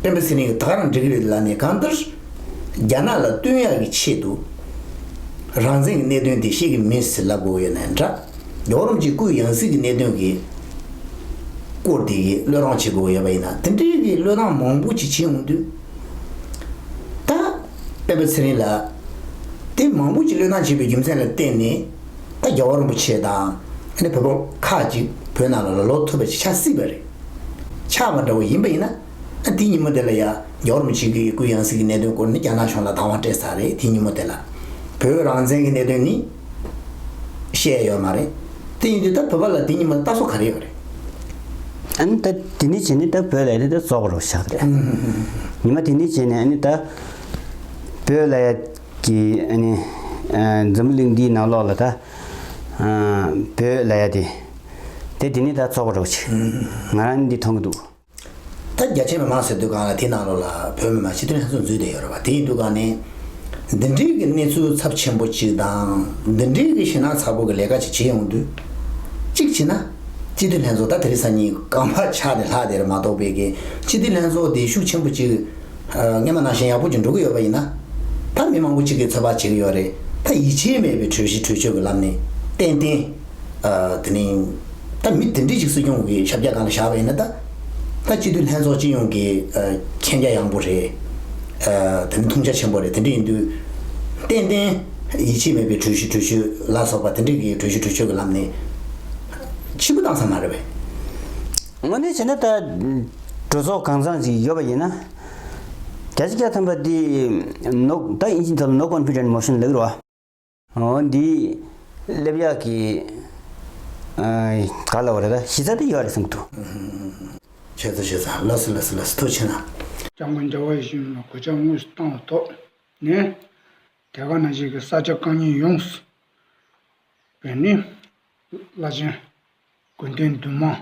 སྤེན་པ་ཚེ་རིང་གིས་ཐག་རིང་འབྲི་གི་རེད་ལབ་ནས་གང་ལྟར་རྒྱ་ནག་ལ་བསྟུན་ཡག་གི་ཆེད་དུ་རང་བཙན་གི་གནད་དོན་དེ་ཤེས་གི་མིན་ཟེར་ལབ་དགོས་ཡོད་ནའི་འདྲ། རྒྱོག་རོམ་གྱི་སྐུའི་ཡང་སྲིད་ཀྱི་གནད་དོན་གྱི་སྐོར་དེ་གི་བློས་བཏང་བྱེད་དགོས་ཡོད་པ་ཡིན་ན་དེ་འདྲའི་གི་བློས་བཏང་མང་པོ་ཅིག་བྱེད་འོང་དུས། ད་སྤེན་པ་ཚེ་རིང་ལ་དེ་མང་པོ་ཅིག་བློས་བཏང་བྱས་པའི་རྒྱུ་མཚན་ལ་བརྟེན་ནས་ད་རྒྱ་བ་རིན་པོ་ཆེ་དང་ཨ་ནེ་བོད་པ་ཁག་ཅིག་བོད་ནང་ལ་ལ་ལོག་ཐུབ་པ་ཅིག་ཆགས་སྲིད་པ་རེད། ཆགས་པ་འདྲ་བོ་ཡིན་པ་ཡིན་ན། དེ་ཉིན་མོ་དེ་ལ་ཡང་རྒྱ་རོམ་ཆིག་སྒྲིལ་གྱི་སྐུལ་ཡང་སྲིད་ཀྱི་གནད་དོན་སྐོར་ནི་རྒྱ་ནག་གཞུང་ལ་དྭང་བ་སྤྲད་ས་རེད་དེ་ཉིན་མོ་དེ་ལ། བོད་རང་བཙན་གྱི་གནད་དོན་ནི། བཤད་ཡོད་མ་རེད། དེ་ཡིན་དུས་ད་བོད་པ་ལ་དེ་ཉིན་མོ་ལྟ་སྲོལ་ག་རེ་ཡོད་རེད། ཨ་ནི་ད་དེ་འདི་བྱས་ནས་ད་བོད་ལ་ཡང་ད་བཙོག་པ་རོགས་བྱ་རེད། ཉི་མ་དེ་འདི་བྱས་ནས་ཨ་ནི་ད། བོད་ལ་ཡང་དེ་ཨ་ནི། འཛམ་བུ་གླིང་འདིའི་ནང་ལོགས་ལ་ད། བོད་ལ་ཡང་དེ། དེ་དེ་ནས་ད་ཚོགས་པར་རོགས་གྱིས། ང་རང་འདི་མཐོང་གི་འདུག། ད་རྒྱ་ཆེ་མི་མང་ཟེར་འདུག་གང་ལ་དེ་ནང་ལོགས་ལ་བོད་མི་མང་ཕྱི་དོན་ལྷན་ཚོགས་འཛུལ་བསྡད་ཡོད་རེད་བ་དེ་ཡིན་འདུག་གང་ནས། འདི་འདྲིའི་གི་གནས་ཚུལ་ཚབས་ཆེན་པོ་གཅིག་དང་འདི་འདྲིའི་གི་ཞེ་སྣང་ཚ་པོ་གི་ལས་ཀ་གཅིག་བྱེད་ཡོང་དུས། གཅིག་བྱས་ན། སྤྱི་འཐུས་ལྷན་ཚོགས་ད་དེ་རིང་སང་ཉིན་གང་བར་ཆགས་ནས་ལྷག་བསྡད་རེད་མ་གཏོགས་པའི་གི་སྤྱི་འཐུས་ལྷན་ཚོགས་འདི་ཤུགས་ཆེན་པོ་གཅིག་སྔས་མ་ནང་བཞིན་ཡག་པོ་གཅིག་འགྲོ་གི་ཡོད་པ་ཡིན་ན། ད་མི་མང་པོ་གཅིག་གི་ཚོད་དཔག་བྱེད་གི་ཡོད་རེད་ད་ཡིད་ཆེས་མེད་པའི་གྲོས་གཞི་གྲོས་ཆོད་གི་ལམ་ནས་ཏན་ཏན། དེ་ནི་ད་མི་དེ་འདྲས་ཤིག་སྲིད་སྐྱོང་གི་ཞབས་རྒྱ་གང་ལ་བཞག་པ་ཡིན་ན་ད། ད་སྤྱི་འཐུས་ལྷན་ཚོགས་སྤྱི་ཡོངས་ཀྱི་མཁྱེན་རྒྱ་ཡངས་པོ་རེད། དེ་ནི་ཐུགས་རྒྱ་ཆེན་པོ་རེད་དེ་འདྲས་ཡིན་དུས། ཏན་ཏན་ཡིད་ཆེས་མེད་པའི་གྲོས་གཞི་གྲོས་ཆོད་ལ་སོགས་པ་དེ་འདྲས་ཀྱི་གྲོས་གཞི་གྲོས་ཆོད་ཀྱི་ལམ་ནས། ཕྱི་པོ་བཏང་ས་མ་རེད་པས། དངོས་གནས་བྱས་ན་ད། གྲོས་ཚོགས་གང་བཟང་ཞིག་ཡོད་པ་ཡིན་ན། རྒྱ་ཆེ་རྒྱ་ཐམ་པ་འདིས་ནོག་ད་ཨིན་ཇི་ཐ་ལ་ནོག་པ་འཕུད་དྲན་མོ་ཤིན་ལེགས་རོ། འོ་འདི་སླེབས་ཡག་གི། ག་ལ་བ་རེད་ད་གཞི་རྩ་དེ་ཡོད་རེད་གསུངས་འདུག། ཁྱེད་ཚོ་ཞེ་ས་ལ་སུ་ལ་སུ་ལ་སུ་ཐུགས་ཆེ་ན། སྐྱབས་མགོན་རྒྱ་བ་ཡེ་ཤུ་མི་དམངས་གོད་ཆག་དངོས་སུ་བཏང་བ་ཐོག་ནས། དེ་ག་ནང་བཞིན་གྱི་ས་ཆ་རྐང་གཉིས་ཡོངས་སུ། བོད་ནི་བླ་ཆེན། དགོན་སྡེ་འདུས་མང།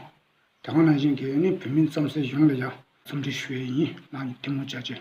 དེ་ག་ནང་བཞིན་གྱི་ནི་བོད་མི་རྩམ་ཟན་གཞུང་ལ་ཡང་འཚམས་འདྲི་ཞུ་ཡས་ཡིན་གནང་ཐུགས་མོ་བྱ་བྱེད།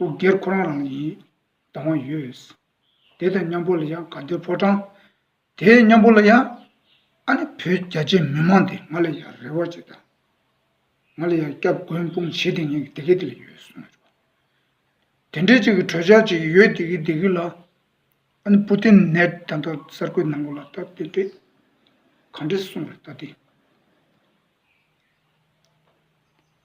དབུ་སྒེར་ཁོ་རང་རང་ཡིན་སྡང་བ་ཡོད། དེ་དང་མཉམ་པོ་ལ་ཡང་དགའ་སྡོད་ཕོ་བྲང། དེ་མཉམ་པོ་ལ་ཡང་ཨ་ནི་བོད་རྒྱ་ཆེ་མི་མང་དེ་ང་ལ་ཡང་རེ་བ་བྱེད་དང། ང་ལ་ཡང་སྐྱབས་མགོན་སྤུངས་བྱེད་དེ་ཉན་གི་དེ་གི་དེ་ལ་ཡོད་གསུངས་བྱུང། དེ་འདྲའི་ཅིག་གི་གྲོས་འཆར་ཅིག་ཡོད་དེ་གི་དེ་གི་ལ། ཨ་ནི་པུ་ཏིན་ནས་ད་ལྟ་གསར་འགོད་གནང་གི་ལ་ད་དེ་འདྲས་གང་འདྲས་གསུངས་བར་ལྟ་སྟེ།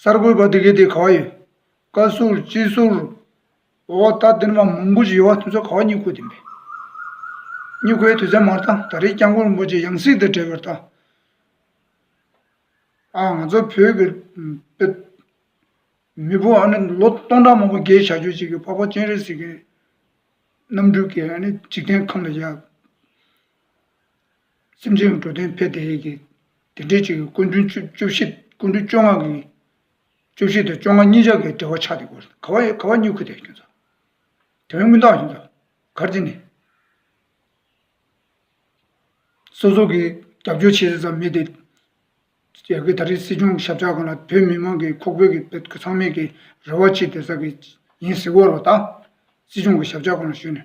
གསར་འགོད་པ་དེ་གའི་དེ་ག་བ་ཡོད། བཀའ་ཟུར་སྤྱི་ཟུར། འོ་ད་དེ་འདྲ་མ་མང་པོ་ཞིག་ཡོད་བ་དེ་ཚོ་ག་བ་སྙུག་ཁུ་དེ་མེད། སྙུག་ཁུའི་དུས་ཚད་མར་དང་ད་རེས་སྐྱབས་མགོན་རིན་པོ་ཆེ་ཡང་སྲིད་དུ་བྲལ་བར་དང། ཨ་ང་ཚོ་བོད་ཀྱི་དཔེ། མི་བུ་ཨ་ནི་ལོ་སྟོང་ཕྲག་མང་པོ་རྒས་བྱ་རྒྱུ་ཅིག་གི་འཕགས་པ་སྤྱན་རས་གཟིགས་ཀྱི། རྣམ་སྤྲུལ་གྱི་ཨ་ནི་འཇིག་རྟེན་ཁམས་ལ་ཡལ། སེམས་ཅན་གྱི་འགྲོ་དོན་ཕལ་དེ་ཡི་གེ། དེ་འབྲེལ་གཅིག་གི་ཀུན་འབྱུང་བཅུ་བཞི་ཀུན་འབྱུང་བཅོ་ལྔ་གི། བཅུ་བཞི་དང་བཅོ་ལྔ་གཉིས་ཆར་གྱི་འབྲེལ་བ་ཆགས་ཏེ་གོ། ག་བ་གཉིས་ཁུ་དེ་སྐྱོན་ཚོགས། དེ་བས་དངུལ་རྟགས་ཡིན། གར་རྩི་ནི། སོ་སོ་གིས་རྒྱབ་སྐྱོར་བྱེད་ས་ཙམ་མེད་དེ། རྒྱལ་ཁའི་ད་རེས་སྲིད་སྐྱོང་ཞབས་ཕྱག་གང་ལ་བོད་མི་མང་གི་ཁོག་བོད་ཀྱི་བོད་དགུ་ཚང་མས་ཀྱི་རེ་བ་ཅི་དེ་ཟ་གི་ཡིན་ཟེར་བོར་བ་དང། སྲིད་སྐྱོང་གི་ཞབས་ཕྱག་གང་ལ་ཞུས་ནས།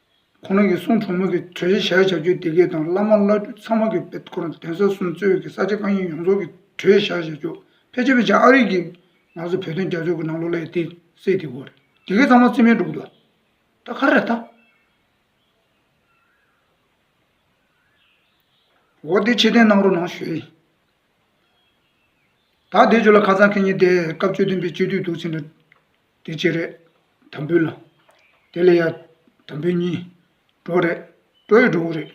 ཁོང་རང་གིས་གསུང་གྲོགས་མོ་གི་གྲོས་གཞི་བཞག་བྱ་རྒྱུ་དེ་གས་དང་བླ་མ་བླ་སྤྲུལ་ཚང་མ་གི་བེད་ཁོ་རང་གདན་ས་གསུམ་གཙོས་ཀྱི་ས་ཆ་དཀའ་རྙིང་ཡོངས་རྫོགས་ཀྱི་གྲོས་གཞི་བཞག་བྱ་རྒྱུ་ཕལ་ཆེར་བས་ཆ་ཨ་རིག་གིས་ང་ཚོ་བོད་དོན་རྒྱབ་སྐྱོར་གི་ནང་ལོག་ལ་ཡི་དེད་སེ་དེ་གོ་རེད་དེ་གས་ཚང་མ་རྩིས་མེད་འགྲོ་གི་འདུག་ད་ག་རེད་ད། འོ་དེ་ཕྱིར་འཐེན་གནང་རོགས་གནང་ཞུ། ད་བསྡད་ཆོག་ལ་ཁ་ཚང་ཁེ་ཉིན་བསྡད་སྐབས་བཅོས་སྟོན་པའི་སྤྱོད་བསྡུས་འདུག་ཚེ་འདྲ། དེ་ཅི་རེད། དམ་འབུལ་ལ། དེ་ལས་ཡག། དམ་འབུལ་གཉིས། གྲོགས་རེད། གྲོགས་ཡོད་གྲོགས་པོ་རེད།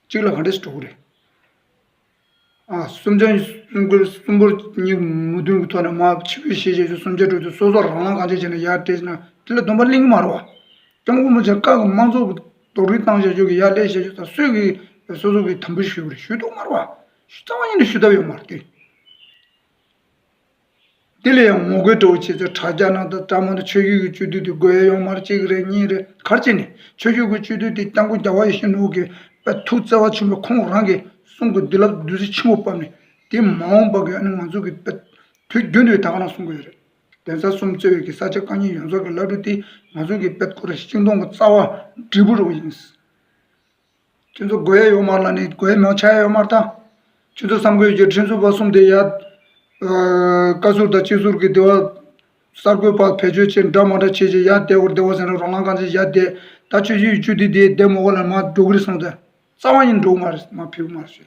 གཅིག་ལ་ག་འདྲ་སྲིད་གྲོགས་པོ་རེད། ཨ། སུམ་ཆ། སུམ་ཁུར། སུམ་འབུར། གཉིས། མུ་དུན་གྱི་ཐོག་ནས་མ། ཕྱི་བོད་ཤེས་བྱའི་ཆུ་སུམ་ཆ་དྲུག་ཏུ་སོ་སོ་རང་རང་གང་བྱས་བྱས་ནས་ཡར་བཀྲེས་ན་དེ་ལ་སྡོམ་པ་གླེང་གི་མ་རོ། སྐྱབས་མགོན་པོ་ཆེ་བཀའ་གི་དམངས་གཙོ་གི་རྡོག་རིལ་བཏང་བྱ་སྤྱོད་ཀྱི་ཡར་ཀླད་བྱ་སྤྱོད་ད་གཟོད་ཀྱི་བོད་སོ་སོ་གིས་དམ་འབུལ་ཞུས་པ་རེད་ཞུས་འདུག་མ་རོ། རྩ་བ་ཉིད་ནས་ཞུ་ཐབས་ཡོད་མ་རེད། དེ་ལས་ཡང་ངོ་རྒོལ་དྲག་བྱེད་ཚོས་དྲ་རྒྱ་ནང་དང་དྲ་མང་དུ་ཆོས་བརྒྱུད་ཀྱི་སྤྱོད་བསྡུས་དེ་རྒོལ་ཡོང་མར་གཅིག་རེ་གཉིས་རེ་གར་བྱས་ནས་ཆོས་བརྒྱུད་ཀྱི་སྤྱོད་བསྡུས་དེ་སྐྱབས་མགོན་རྒྱ་བོད་ཡེ་ཤེས་ནོར་བུ་དགེ་བ་ཐུགས་བརྩེ་བ་ཆེན་པོས་ཁོང་རང་གི་གསུང་གི་བདུད་རླབས་བདུད་རྩི་ཆེན་པོ་བབས་ནས་དེ་མ་འོངས་པ་གའི་ང་ཚོ་གི་དུས་རྒྱུན་དུ་ད་ག་ན་གསུང་གི་ཡོད་རེད། གདན་ས་གསུམ་གཙོས་ཀྱི་ས་ཆ་བཀའ་རྙིང་ཡོངས་རྫོགས་ཀྱི་བླ་སྤྲུལ་དེ་ང་ཚོ་གི་དཔལ་ཁོ་རེ་ཤིང་སྡོང་གི་རྩ་བ་འབྲས་བུ་རུ་ཡིན། ཁྱེད་ཚོ་དགོས་ཡ་ཡོད་མར་ལ་ནི་དགོས་ཡ་མང་ཆ་ཡ་ཡོད་མར་ད། ཁྱེད་ཚོ་བསམ་དགོས་ཀྱི་ཁྲིམས་རྩོད་པ་གསུམ་དེ་ཡ། བཀའ་ཟུར་དང་སྤྱི་ཟུར་གྱི་སྡེ་བ། གསར་འགོད་པ་བེད་སྤྱོད་བྱེད་འདྲ་མ་འདྲ་བྱེད་ཀྱི་ཡ་བསྡད་བོར་བསྡད་བོར་ཟེར་ན་རོ་ལངས་གང་ཆེ་ཡ་བསྡད་ད་ཆོས་སྤྱི་ཡུལ་བཅུ་དེ་དེ་བསྡད་མོ་གོ་ལ་མ་འགྲོ་གི་རེད་གསུངས་ད་རྩ་བ་ནི་འགྲོ་གི་མ་རེད་མ་ཕེབས་གི་མ་རེད་ཟེར།